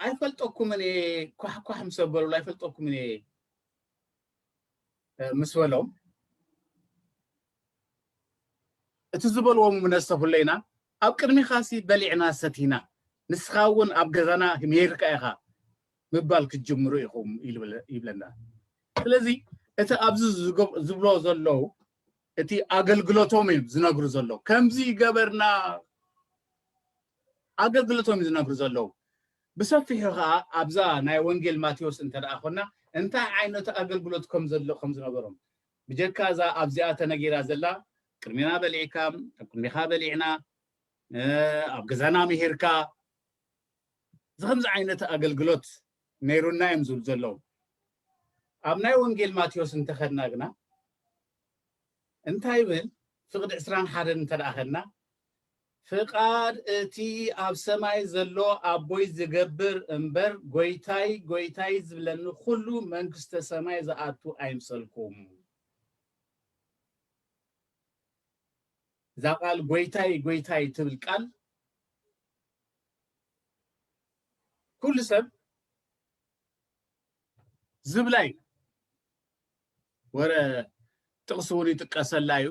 ኣይፈልጠኩምን እየ ኳሕኳሕ ምስ ኣበሉሉ ኣይፈልጠኩምን እየ ምስ በሎም እቲ ዝበልዎ ምነሰፍለይና ኣብ ቅድሚኻሲ በሊዕና ሰቲና ንስኻ እውን ኣብ ገዛና ሜርካ ኢኻ ምባል ክትጅምሩ ኢኹም ይብለና። ስለዚ እቲ ኣብዚ ዝብሎ ዘለዉ እቲ ኣገልግሎቶም እዮም ዝነግሩ ዘለዉ ከምዚ ገበርና ኣገልግሎቶም እዩ ዝነግሩ ዘለዉ ብሰፊሑ ከዓ ኣብዛ ናይ ወንጌል ማቴዎስ እንተ ደኣ ኮና እንታይ ዓይነት ኣገልግሎት ከም ዘሎ ከም ዝነበሮም ብጀካ እዛ ኣብዚኣ ተነጊራ ዘላ ቅድሜና በሊዕካ ኣብ ቅድሜኻ በሊዕና ኣብ ገዛና ምሂርካ እዚ ከምዚ ዓይነት ኣገልግሎት ነይሩና እዮም ዝብሉ ዘለዉ። ኣብ ናይ ወንጌል ማቴዎስ እንተኸድና ግና እንታይ ይብል? ፍቕዲ ዕስራን ሓደን እንተ ደኣ ኸድና ፍቓድ እቲ ኣብ ሰማይ ዘሎ ኣቦይ ዝገብር እምበር ጎይታይ ጎይታይ ዝብለኒ ኩሉ መንግስተ ሰማይ ዝኣቱ ኣይምሰልኩም። እዛ ቃል ጎይታይ ጎይታይ ትብል ቃል ኩሉ ሰብ ዝብላ እዩ ወረ ጥቕሲ እውን ይጥቀሰላ እዩ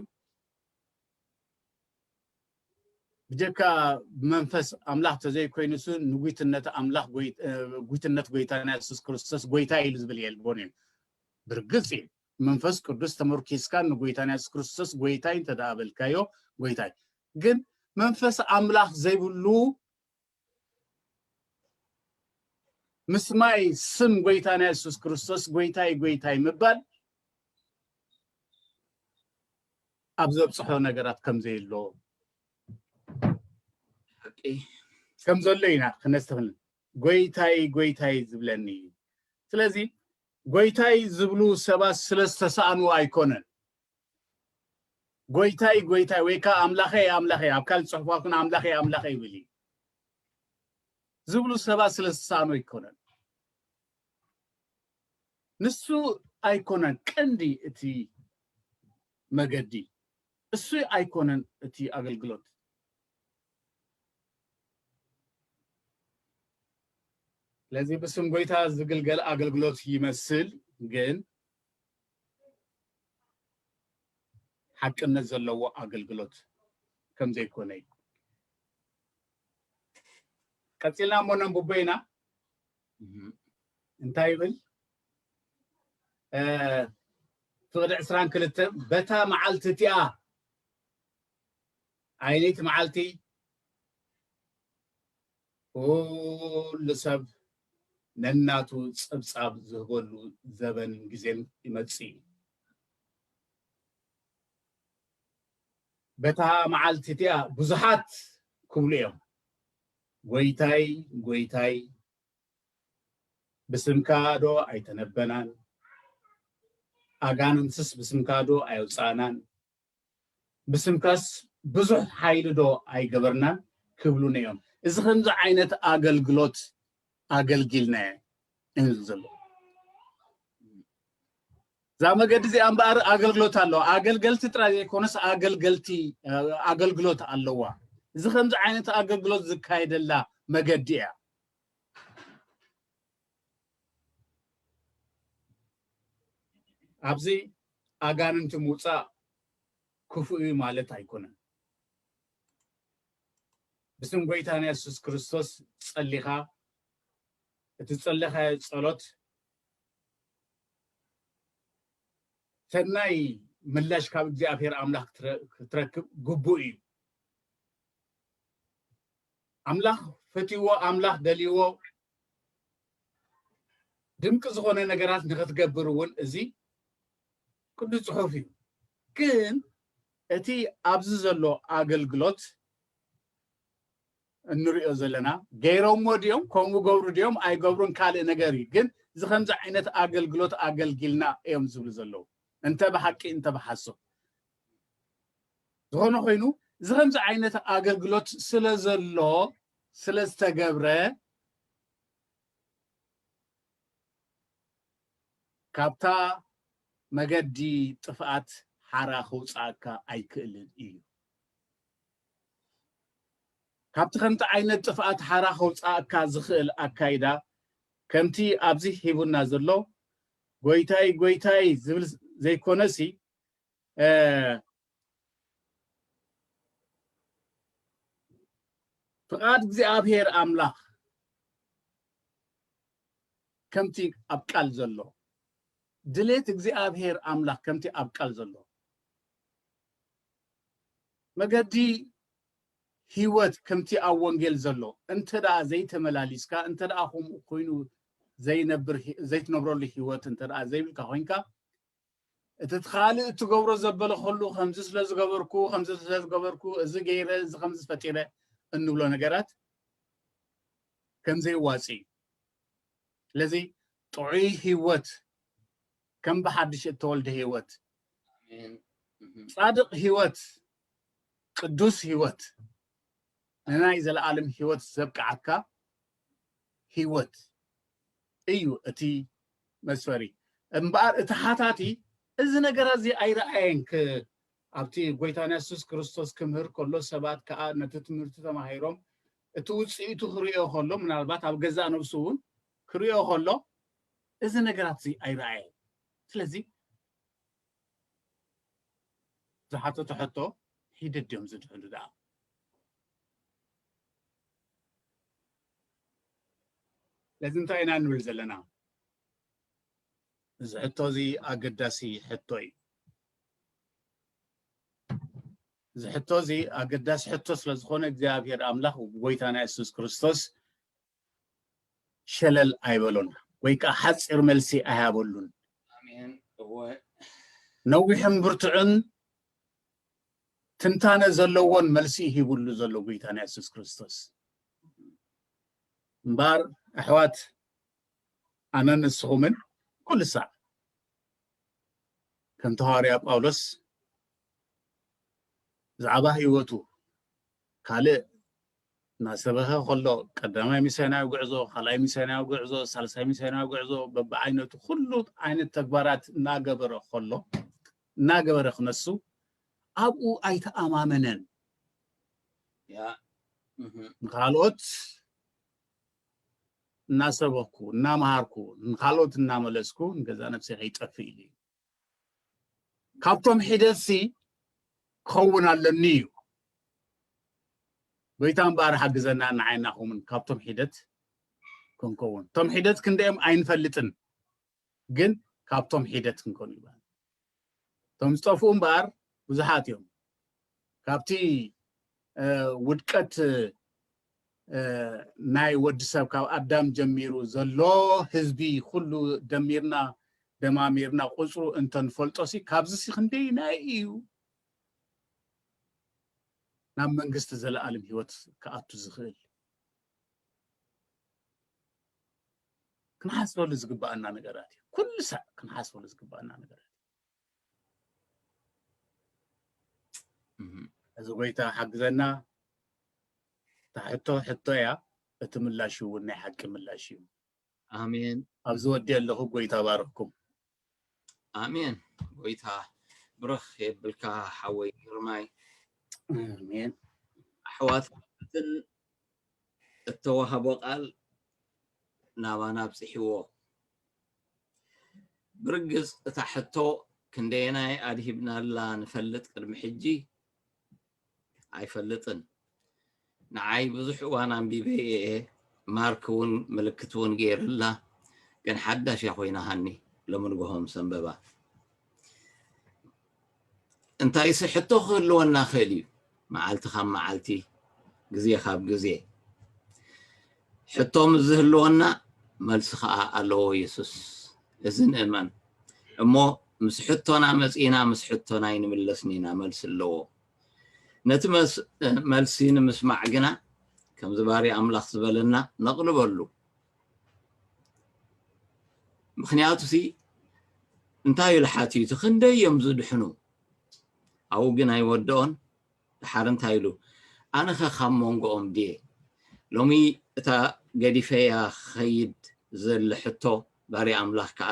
ብጀካ መንፈስ ኣምላኽ ተዘይኮይኑስ ንጉትነት ኣምላኽ ጉትነት ጎይታና የሱስ ክርስቶስ ጎይታ ኢሉ ዝብል የልቦን እዩ ብርግፅ እዩ ብመንፈስ ቅዱስ ተመርኪስካ ንጎይታ ናይ የሱስ ክርስቶስ ጎይታይ እንተ ደኣ በልካዮ ጎይታይ ግን መንፈስ ኣምላኽ ዘይብሉ ምስማይ ስም ጎይታ ናይ የሱስ ክርስቶስ ጎይታይ ጎይታይ ምባል ኣብ ዘብጽሖ ነገራት ከም ዘየሎ ከም ዘሎ ኢና ክነስተብህል ጐይታይ ጐይታይ ዝብለኒ እዩ። ስለዚ ጐይታይ ዝብሉ ሰባት ስለ ዝተሳእኑ ኣይኰነን። ጐይታይ ጐይታይ ወይ ከኣ ኣምላኸይ ኣምላኸይ፣ ኣብ ካልእ ጽሑፋት እውን ኣምላኸይ ኣምላኸይ ይብል እዩ፣ ዝብሉ ሰባት ስለ ዝተሳእኑ ኣይኰነን። ንሱ ኣይኰነን ቀንዲ እቲ መገዲ፣ እሱ ኣይኰነን እቲ ኣገልግሎት። ስለዚ ብስም ጎይታ ዝግልገል ኣገልግሎት ይመስል ግን ሓቅነት ዘለዎ ኣገልግሎት ከም ዘይኮነ እዩ ቀፂልና እሞ ነንብቦ ኢና እንታይ ይብል ፍቕዲ ዕስራን ክልተ በታ መዓልቲ እቲኣ ኣይ ለይቲ መዓልቲ ኩሉ ሰብ ነናቱ ጸብጻብ ዝህበሉ ዘበንን ግዜን ይመጽእ እዩ። በታ መዓልቲ እቲኣ ብዙሓት ክብሉ እዮም፣ ጐይታይ ጐይታይ ብስምካዶ ኣይተነበናን፣ ኣጋንንትስ ብስምካዶ ኣየውጻእናን፣ ብስምካስ ብዙሕ ሓይሊ ዶ ኣይገበርናን ክብሉኒ እዮም እዚ ከምዚ ዓይነት ኣገልግሎት ኣገልጊልናየ እንል ዘሎ እዛ መገዲ እዚኣ እምበኣር ኣገልግሎት ኣለዋ ኣገልገልቲ ጥራይ ዘይኮነስ ኣገልገልቲ ኣገልግሎት ኣለዋ እዚ ከምዚ ዓይነት ኣገልግሎት ዝካየደላ መገዲ እያ ኣብዚ ኣጋንንቲ ምውፃእ ክፉእ እዩ ማለት ኣይኮነን። ብስም ጎይታና የሱስ ክርስቶስ ጸሊኻ እቲ ዝጸለኻዮ ጸሎት ሰናይ ምላሽ ካብ እግዚኣብሔር ኣምላኽ ክትረክብ ግቡእ እዩ። ኣምላኽ ፈትይዎ፣ ኣምላኽ ደልይዎ፣ ድንቂ ዝኾነ ነገራት ንክትገብር እውን እዚ ቅዱስ ፅሑፍ እዩ ግን እቲ ኣብዚ ዘሎ ኣገልግሎት እንሪኦ ዘለና ገይሮሞ ድዮም ከምኡ ገብሩ ድዮም ኣይገብሩን ካልእ ነገር እዩ ግን እዚ ከምዚ ዓይነት ኣገልግሎት ኣገልጊልና እዮም ዝብሉ ዘለዉ እንተ ብሓቂ እንተ ብሓሶብ ዝኾነ ኮይኑ እዚ ከምዚ ዓይነት ኣገልግሎት ስለ ዘሎ ስለዝተገብረ ካብታ መገዲ ጥፍኣት ሓራ ክውፅኣካ ኣይክእልን እዩ። ካብቲ ከምቲ ዓይነት ጥፍኣት ሓራ ከውፃእካ ዝኽእል ኣካይዳ ከምቲ ኣብዚ ሂቡና ዘሎ ጎይታይ ጎይታይ ዝብል ዘይኮነሲ ፍቓድ እግዚኣብሔር ኣምላኽ ከምቲ ኣብ ቃል ዘሎ ድሌት እግዚኣብሔር ኣምላኽ ከምቲ ኣብ ቃል ዘሎ መገዲ ህይወት ከምቲ ኣብ ወንጌል ዘሎ እንተ ደኣ ዘይተመላሊስካ እንተ ደኣ ከምኡ ኮይኑ ዘይነብር ዘይትነብረሉ ህይወት እንተ ደኣ ዘይብልካ ኮንካ እቲ ካልእ እትገብሮ ዘበለ ኹሉ ከምዚ ስለ ዝገበርኩ ከምዚ ስለ ዝገበርኩ እዚ ገይረ እዚ ከምዚ ፈጢረ እንብሎ ነገራት ከም ዘይዋጽእ እዩ ስለዚ ጥዑይ ህይወት ከም ብሓድሽ እተወልደ ህይወት ጻድቕ ህይወት ቅዱስ ህይወት ንናይ ዘለኣለም ህይወት ዘብቅዓካ ህይወት እዩ እቲ መስፈሪ እምበኣር እቲ ሓታቲ እዚ ነገር እዚ ኣይረኣየን ኣብቲ ጎይታና የሱስ ክርስቶስ ክምህር ከሎ ሰባት ከዓ ነቲ ትምህርቲ ተማሂሮም እቲ ውፅኢቱ ክርእዮ ከሎ ምናልባት ኣብ ገዛእ ነብሱ እውን ክርእዮ ከሎ እዚ ነገራት እዚ ኣይረኣየ ስለዚ ዝሓተቶ ሕቶ ሂደት ድዮም ዝድሕሉ ደኣ ስለዚ እንታይ ኢና ንብል ዘለና? እዚ ሕቶ እዚ ኣገዳሲ ሕቶ እዩ። እዚ ሕቶ እዚ ኣገዳሲ ሕቶ ስለ ዝኾነ እግዚኣብሔር ኣምላኽ ጎይታና የሱስ ክርስቶስ ሸለል ኣይበሎን ወይ ከዓ ሓፂር መልሲ ኣይሃበሉን። ነዊሕን ብርቱዕን ትንታነ ዘለዎን መልሲ ሂብሉ ዘሎ ጎይታና የሱስ ክርስቶስ እምበኣር ኣሕዋት ኣነን ንስኹምን ኩሉ ሳዕ ከምቲ ሃዋርያ ጳውሎስ ብዛዕባ ህይወቱ ካልእ እናሰበኸ ከሎ ቀዳማይ ሚስዮናዊ ጉዕዞ ካልኣይ ሚስዮናዊ ጉዕዞ ሳልሳይ ሚስዮናዊ ጉዕዞ በብዓይነቱ ኩሉ ዓይነት ተግባራት እናገበረ ከሎ እናገበረ ክነሱ ኣብኡ ኣይተኣማመነን። ንኻልኦት እናሰበኽኩ፣ እናመሃርኩ፣ ንኻልኦት እናመለስኩ ንገዛእ ነብሰይ ከይጠፍእ ኢሉ እዩ። ካብቶም ሒደትሲ ክኸውን ኣለኒ እዩ። ጎይታ እምበኣር ሓግዘና ንዓይና ከምኡውን ካብቶም ሒደት ክንከውን። እቶም ሒደት ክንደኦም ኣይንፈልጥን። ግን ካብቶም ሒደት ክንከኑ ይብሃል። እቶም ዝጠፍኡ እምበኣር ብዙሓት እዮም። ካብቲ ውድቀት ናይ ወዲ ሰብ ካብ ኣዳም ጀሚሩ ዘሎ ህዝቢ ኩሉ ደሚርና ደማሚርና ቁፅሩ እንተንፈልጦሲ ካብዚሲ ክንደይናይ እዩ ናብ መንግስቲ ዘለኣለም ህይወት ክኣቱ ዝኽእል? ክንሓስበሉ ዝግባኣና ነገራት እዩ ኩሉ ሳዕ ክንሓስበሉ ዝግባኣና ነገራት እዚ ጎይታ ሓግዘና እታ ሕቶ ሕቶ እያ እቲ ምላሽ እውን ናይ ሓቂ ምላሽ እዩ ኣሜን ኣብዚ ወዲኤ ኣለኩ ጎይታ ባርክኩም። ኣሜን ጎይታ ብርኽ የብልካ ሓወይ ግርማይ። ኣሜን ኣሕዋትን እተዋህቦ ቃል ናባና ኣብጽሕዎ። ብርግጽ እታ ሕቶ ክንደየናይ ኣድሂብናላ ንፈልጥ ቅድሚ ሕጂ ኣይፈልጥን ንዓይ ብዙሕ እዋን ኣንቢበ እየ ማርክ እውን ምልክት እውን ገይርላ ግን ሓዳሽ እያ ኮይናሃኒ ሎሚ ንግሆ ምስ ኣንበባ እንታይሲ ሕቶ ክህልወና ክእል እዩ መዓልቲ ካብ መዓልቲ ግዜ ካብ ግዜ ሕቶ ምስ ዝህልወና መልሲ ኸኣ ኣለዎ የሱስ። እዚ ንእመን እሞ ምስ ሕቶና መጺእና ምስ ሕቶና ኣይንምለስን ኢና መልሲ ኣለዎ። ነቲ መልሲ ንምስማዕ ግና ከምዚ ባርያ ኣምላኽ ዝበለና ነቕልበሉ። ምክንያቱሲ እንታይ ኢሉ ሓቲቱ ክንደይ እዮም ዝድሕኑ ኣብኡ ግን ኣይወድኦን ደሓር እንታይ ኢሉ ኣነኸ ካብ ሞንጎኦም ድየ ሎሚ እታ ገዲፈያ ክኸይድ ዝደሊ ሕቶ ባርያ ኣምላኽ ከኣ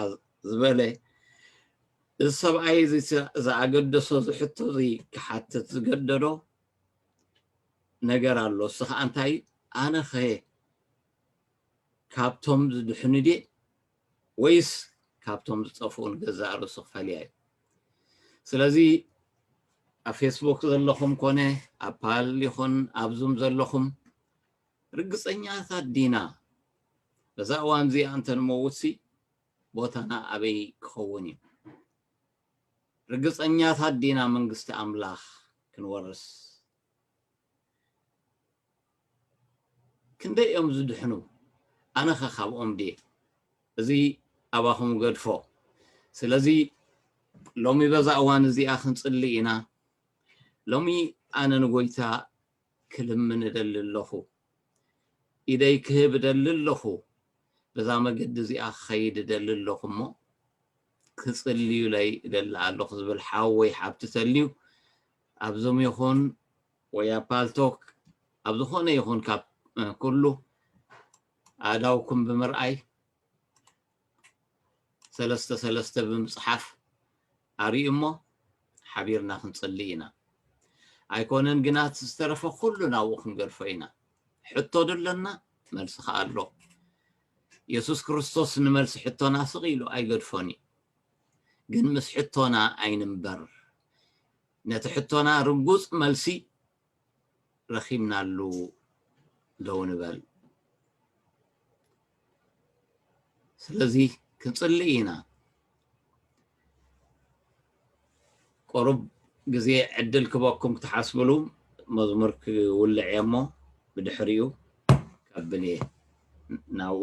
ዝበለ እዚ ሰብኣይ እዚ ዝኣገደሶ እዚ ሕቶ እዚ ክሓትት ዝገደዶ ነገር ኣሎ እሱ ከኣ እንታይ ኣነኸ ካብቶም ዝድሕኑ ድየ ወይስ ካብቶም ዝጠፍኡ ንገዛእ ርእሱ ክፈልያ እዩ? ስለዚ ኣብ ፌስቡክ ዘለኹም ኮነ ኣብ ፓል ይኹን ኣብ ዙም ዘለኹም ርግጸኛታት ዲና? በዛ እዋን እዚኣ እንተ ንመውትሲ ቦታና ኣበይ ክኸውን እዩ? ርግጸኛታት ዲና መንግስቲ ኣምላኽ ክንወርስ ክንደይ እዮም ዝድሕኑ ኣነኸ ካብኦም ድየ እዚ ኣባኹም እገድፎ ስለዚ ሎሚ በዛ እዋን እዚኣ ክንጽሊ ኢና ሎሚ ኣነ ንጎይታ ክልምን እደሊ ኣለኹ ኢደይ ክህብ እደሊ ኣለኹ በዛ መገዲ እዚኣ ክኸይድ እደሊ ኣለኹ እሞ ክጽልዩለይ እደሊ ኣለኹ ዝብል ሓወይ ሓብቲ ተልዩ ኣብ ዙም ይኹን ወይ ኣብ ፓልቶክ ኣብ ዝኾነ ይኹን ካብ ኩሉ ኣእዳውኩም ብምርኣይ ሰለስተ ሰለስተ ብምፅሓፍ ኣርእዩ እሞ ሓቢርና ክንፅሊ ኢና። ኣይኮነን ግና እቲ ዝተረፈ ኩሉ ናብኡ ክንገድፎ ኢና። ሕቶ ዶ ኣለና? መልሲ ከዓ ኣሎ። የሱስ ክርስቶስ ንመልሲ ሕቶና ስቕ ኢሉ ኣይገድፎን እዩ። ግን ምስ ሕቶና ኣይንንበር ነቲ ሕቶና ርጉጽ መልሲ ረኺብናሉ ደው ንበል ስለዚ ክንጽሊ ኢና ቆሩብ ግዜ ዕድል ክበኩም ክትሓስብሉ መዝሙር ክውልዕ እየ እሞ ብድሕሪኡ ካብኔ ናብኡ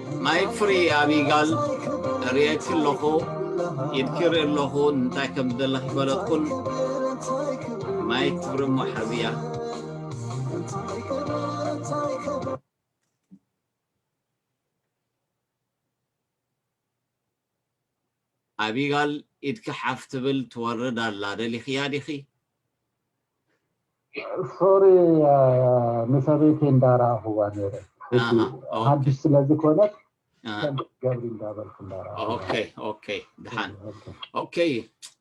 ናይ ፍሪ ኣቢ ጋል ሪኤኪ ኣለኩ ኢድኪ ይርኢ ኣለኩ እንታይ ከም ዝደሊ ከይፈለጥኩን ማይክ ፍሪ እሞ ሓዝያ። ኣቢጋል ኢድኪ ሓፍ ትብል ትወርድ ኣላ ደሊክያ ዲኪ። ሶሪ ንሰበይተይ እንዳ ረኣክዋ ነይረ ሕጂ ሓድሽ ስለ ዝኮነት ከምዚ ትገብሪ እንዳ በልኩ እንዳ ረኣክዋ። ኦከይ ኦከይ ድሓን ኦከይ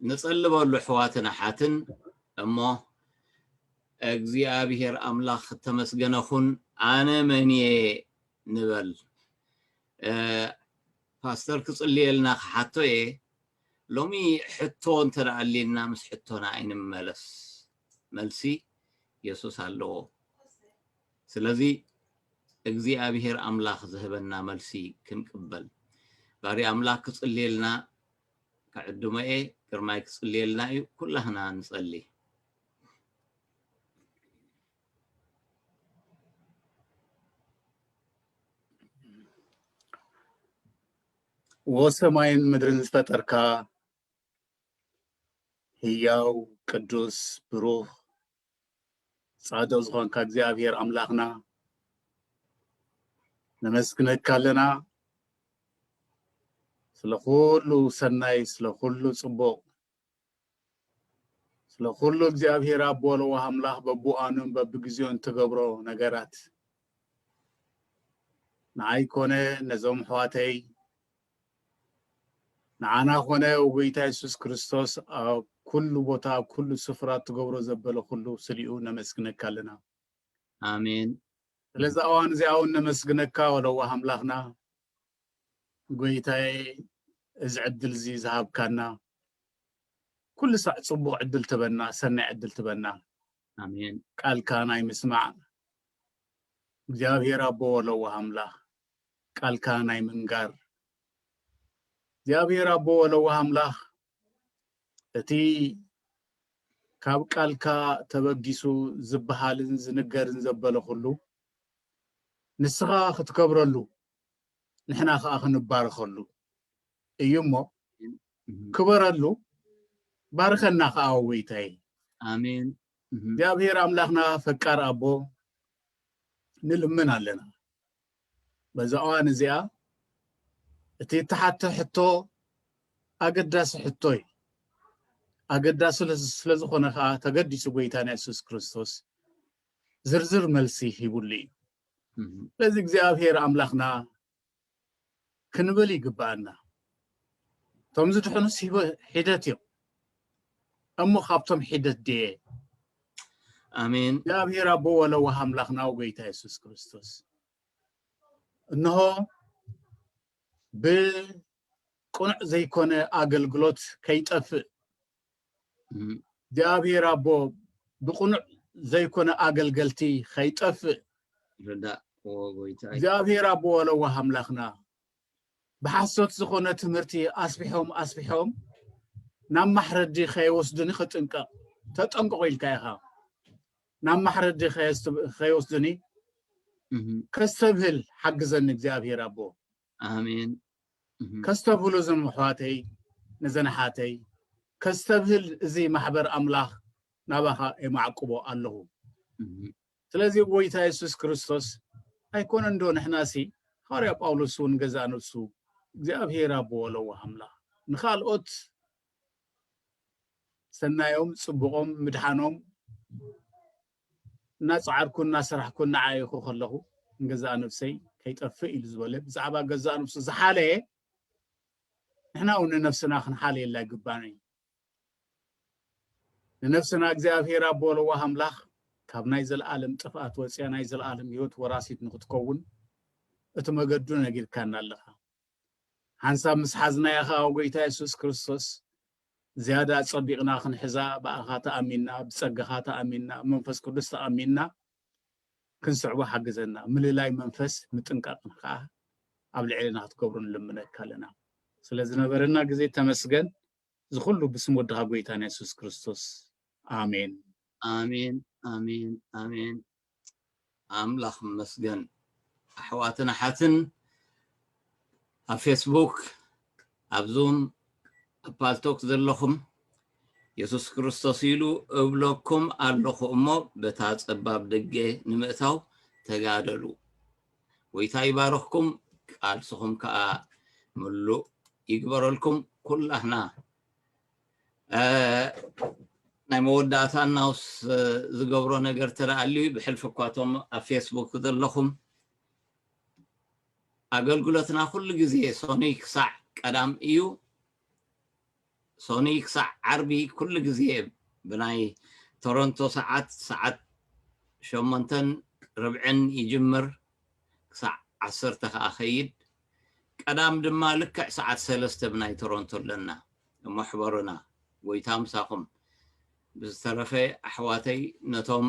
ንጸሊ በሉ ኣሕዋትን ኣሓትን እሞ እግዚኣብሄር ኣምላክ እተመስገነ ኩን ኣነ መን እየ ንበል። ፓስተር ክጽልየልና ክሓቶ እየ ሎሚ ሕቶ እንተ ኣልዩና ምስ ሕቶና ኣይንመለስ መልሲ የሱስ ኣለዎ ስለዚ እግዚኣብሄር ኣምላኽ ዝህበና መልሲ ክንቅበል ባርያ ኣምላኽ ክጽልየልና ክዕድሞ እየ ግርማይ ክጽልየልና እዩ ኩላህና ንጸሊ ወሰማይን ምድርን ዝፈጠርካ ህያው ቅዱስ ብሩኽ ጻድቕ ዝኾንካ እግዚኣብሔር ኣምላኽና ነመስግነካ ኣለና ስለ ኩሉ ሰናይ ስለ ኩሉ ጽቡቕ ስለ ኩሉ እግዚኣብሔር ኣቦ ለዋህ ኣምላኽ በብዋኑን በብግዜኡን ትገብሮ ነገራት ንዓይ ኮነ ነዞም ኣሕዋተይ ንዓና ኮነ ጎይታ የሱስ ክርስቶስ ኣብ ኩሉ ቦታ ኣብ ኩሉ ስፍራ ትገብሮ ዘበለ ኩሉ ስሊኡ ነመስግነካ ኣለና ኣሜን ስለዚ ኣዋን እዚኣ እውን ነመስግነካ ወለዋህ ኣምላኽና ጎይታየ እዚ ዕድል እዚ ዝሃብካና ኩሉ ሳዕ ጽቡቅ ዕድል ትበና ሰናይ ዕድል ትበና ኣሜን ቃልካ ናይ ምስማዕ እግዚኣብሔር ኣቦ ወለዋህ ኣምላክ ቃልካ ናይ ምንጋር እግዚኣብሔር ኣቦ ወለዋህ ኣምላክ እቲ ካብ ቃልካ ተበጊሱ ዝበሃልን ዝንገርን ዘበለ ኩሉ ንስኻ ክትከብረሉ ንሕና ከኣ ክንባረኸሉ እዩ እሞ ክበረሉ ባርከና ከኣ ወይታይ ኣሜን እግዚኣብሔር ኣምላኽና ፈቃር ኣቦ ንልምን ኣለና በዛ እዋን እዚኣ እቲ እተሓተ ሕቶ ኣገዳሲ ሕቶ እዩ ኣገዳሲ ስለዝኾነ ከዓ ተገዲሱ ጎይታና የሱስ ክርስቶስ ዝርዝር መልሲ ሂቡሉ እዩ ስለዚ እግዚኣብሔር ኣምላኽና ክንብል ይግብኣና እቶም ዝድሕኑስ ሒደት እዮም እሞ ካብቶም ሒደት ድየ ኣሜን እግዚኣብሔር ኣቦ ወለዋህ ኣምላኽና ጎይታ የሱስ ክርስቶስ እነሆ ብቅኑዕ ዘይኮነ ኣገልግሎት ከይጠፍእ እግዚኣብሔር ኣቦ ብቕኑዕ ዘይኮነ ኣገልገልቲ ከይጠፍእ ርዳእ ወጎይታይ እግዚኣብሔር ኣቦ ለዋህ ኣምላኽና ብሓሶት ዝኾነ ትምህርቲ ኣስፊሖም ኣስፊሖም ናብ ማሕረዲ ከይወስዱኒ ክጥንቀቕ ተጠንቀቑ ኢልካ ኢኻ ናብ ማሕረዲ ከይወስዱኒ ከስተብህል ሓግዘኒ እግዚኣብሔር ኣቦ ኣሜን ከስተብህሉ እዞም ኣሕዋተይ ነዘን ኣሓተይ ከስተብህል እዚ ማሕበር ኣምላኽ ናባኻ የማዕቅቦ ኣለኹ ስለዚ ጎይታ የሱስ ክርስቶስ ኣይኮነን ዶ ንሕናሲ ሃዋርያ ጳውሎስ እውን ገዛእ ነብሱ እግዚኣብሄር ኣቦ ለዋህ ኣምላኽ ንኻልኦት ሰናዮም ጽቡቆም ምድሓኖም እናጸዓርኩን እናሰራሕኩን እናዓየኹ ከለኹ ንገዛእ ነብሰይ ከይጠፍእ ኢሉ ዝበለ ብዛዕባ ገዛእ ነብሱ ዝሓለየ ንሕና እውን ንነፍስና ክንሓልየላ ይግባና እዩ ንነፍስና እግዚኣብሔር ኣቦ ለዋህ ኣምላኽ ካብ ናይ ዘለኣለም ጥፍኣት ወፅያ ናይ ዘለኣለም ህይወት ወራሲት ንክትከውን እቲ መገዱ ነጊርካና ኣለኻ ሓንሳብ ምስ ሓዝናያ ኸዓ ጎይታ የሱስ ክርስቶስ ዝያዳ ኣጸቢቕና ክንሕዛ ብኣኻ ተኣሚንና፣ ብጸጋኻ ተኣሚንና፣ ብመንፈስ ቅዱስ ተኣሚንና ክንስዕቦ ሓግዘና። ምልላይ መንፈስ ምጥንቃቕን ከኣ ኣብ ልዕሌና ክትገብሮ ንልምነካ ኣለና። ስለ ዝነበረና ግዜ ተመስገን። እዚ ኩሉ ብስም ወድኻ ጎይታና የሱስ ክርስቶስ ኣሜን። ኣሜን ኣሜን ኣሜን ኣምላኽ ይመስገን ኣሕዋትን ኣሓትን ኣብ ፌስቡክ ኣብ ዙም ኣብ ፓልቶክ ዘለኹም የሱስ ክርስቶስ ኢሉ እብለኩም ኣለኹ እሞ በታ ጸባብ ደገ ንምእታው ተጋደሉ ጎይታ ይባርኽኩም ቃልስኹም ከዓ ምሉእ ይግበረልኩም ኩላህና ናይ መወዳእታ ናውስ ዝገብሮ ነገር ተረኣሉ ብሕልፊ እኳቶም ኣብ ፌስቡክ ዘለኹም ኣገልግሎትና ኩሉ ግዜ ሰኑይ ክሳዕ ቀዳም እዩ ሰኑይ ክሳዕ ዓርቢ ኩሉ ግዜ ብናይ ቶሮንቶ ሰዓት ሰዓት ሸሞንተን ርብዕን ይጅምር ክሳዕ ዓሰርተ ከኣ ከይድ ቀዳም ድማ ልክዕ ሰዓት ሰለስተ ብናይ ቶሮንቶ ኣለና እሞ ሕበሩና ጎይታ ምሳኹም ብዝተረፈ ኣሕዋተይ ነቶም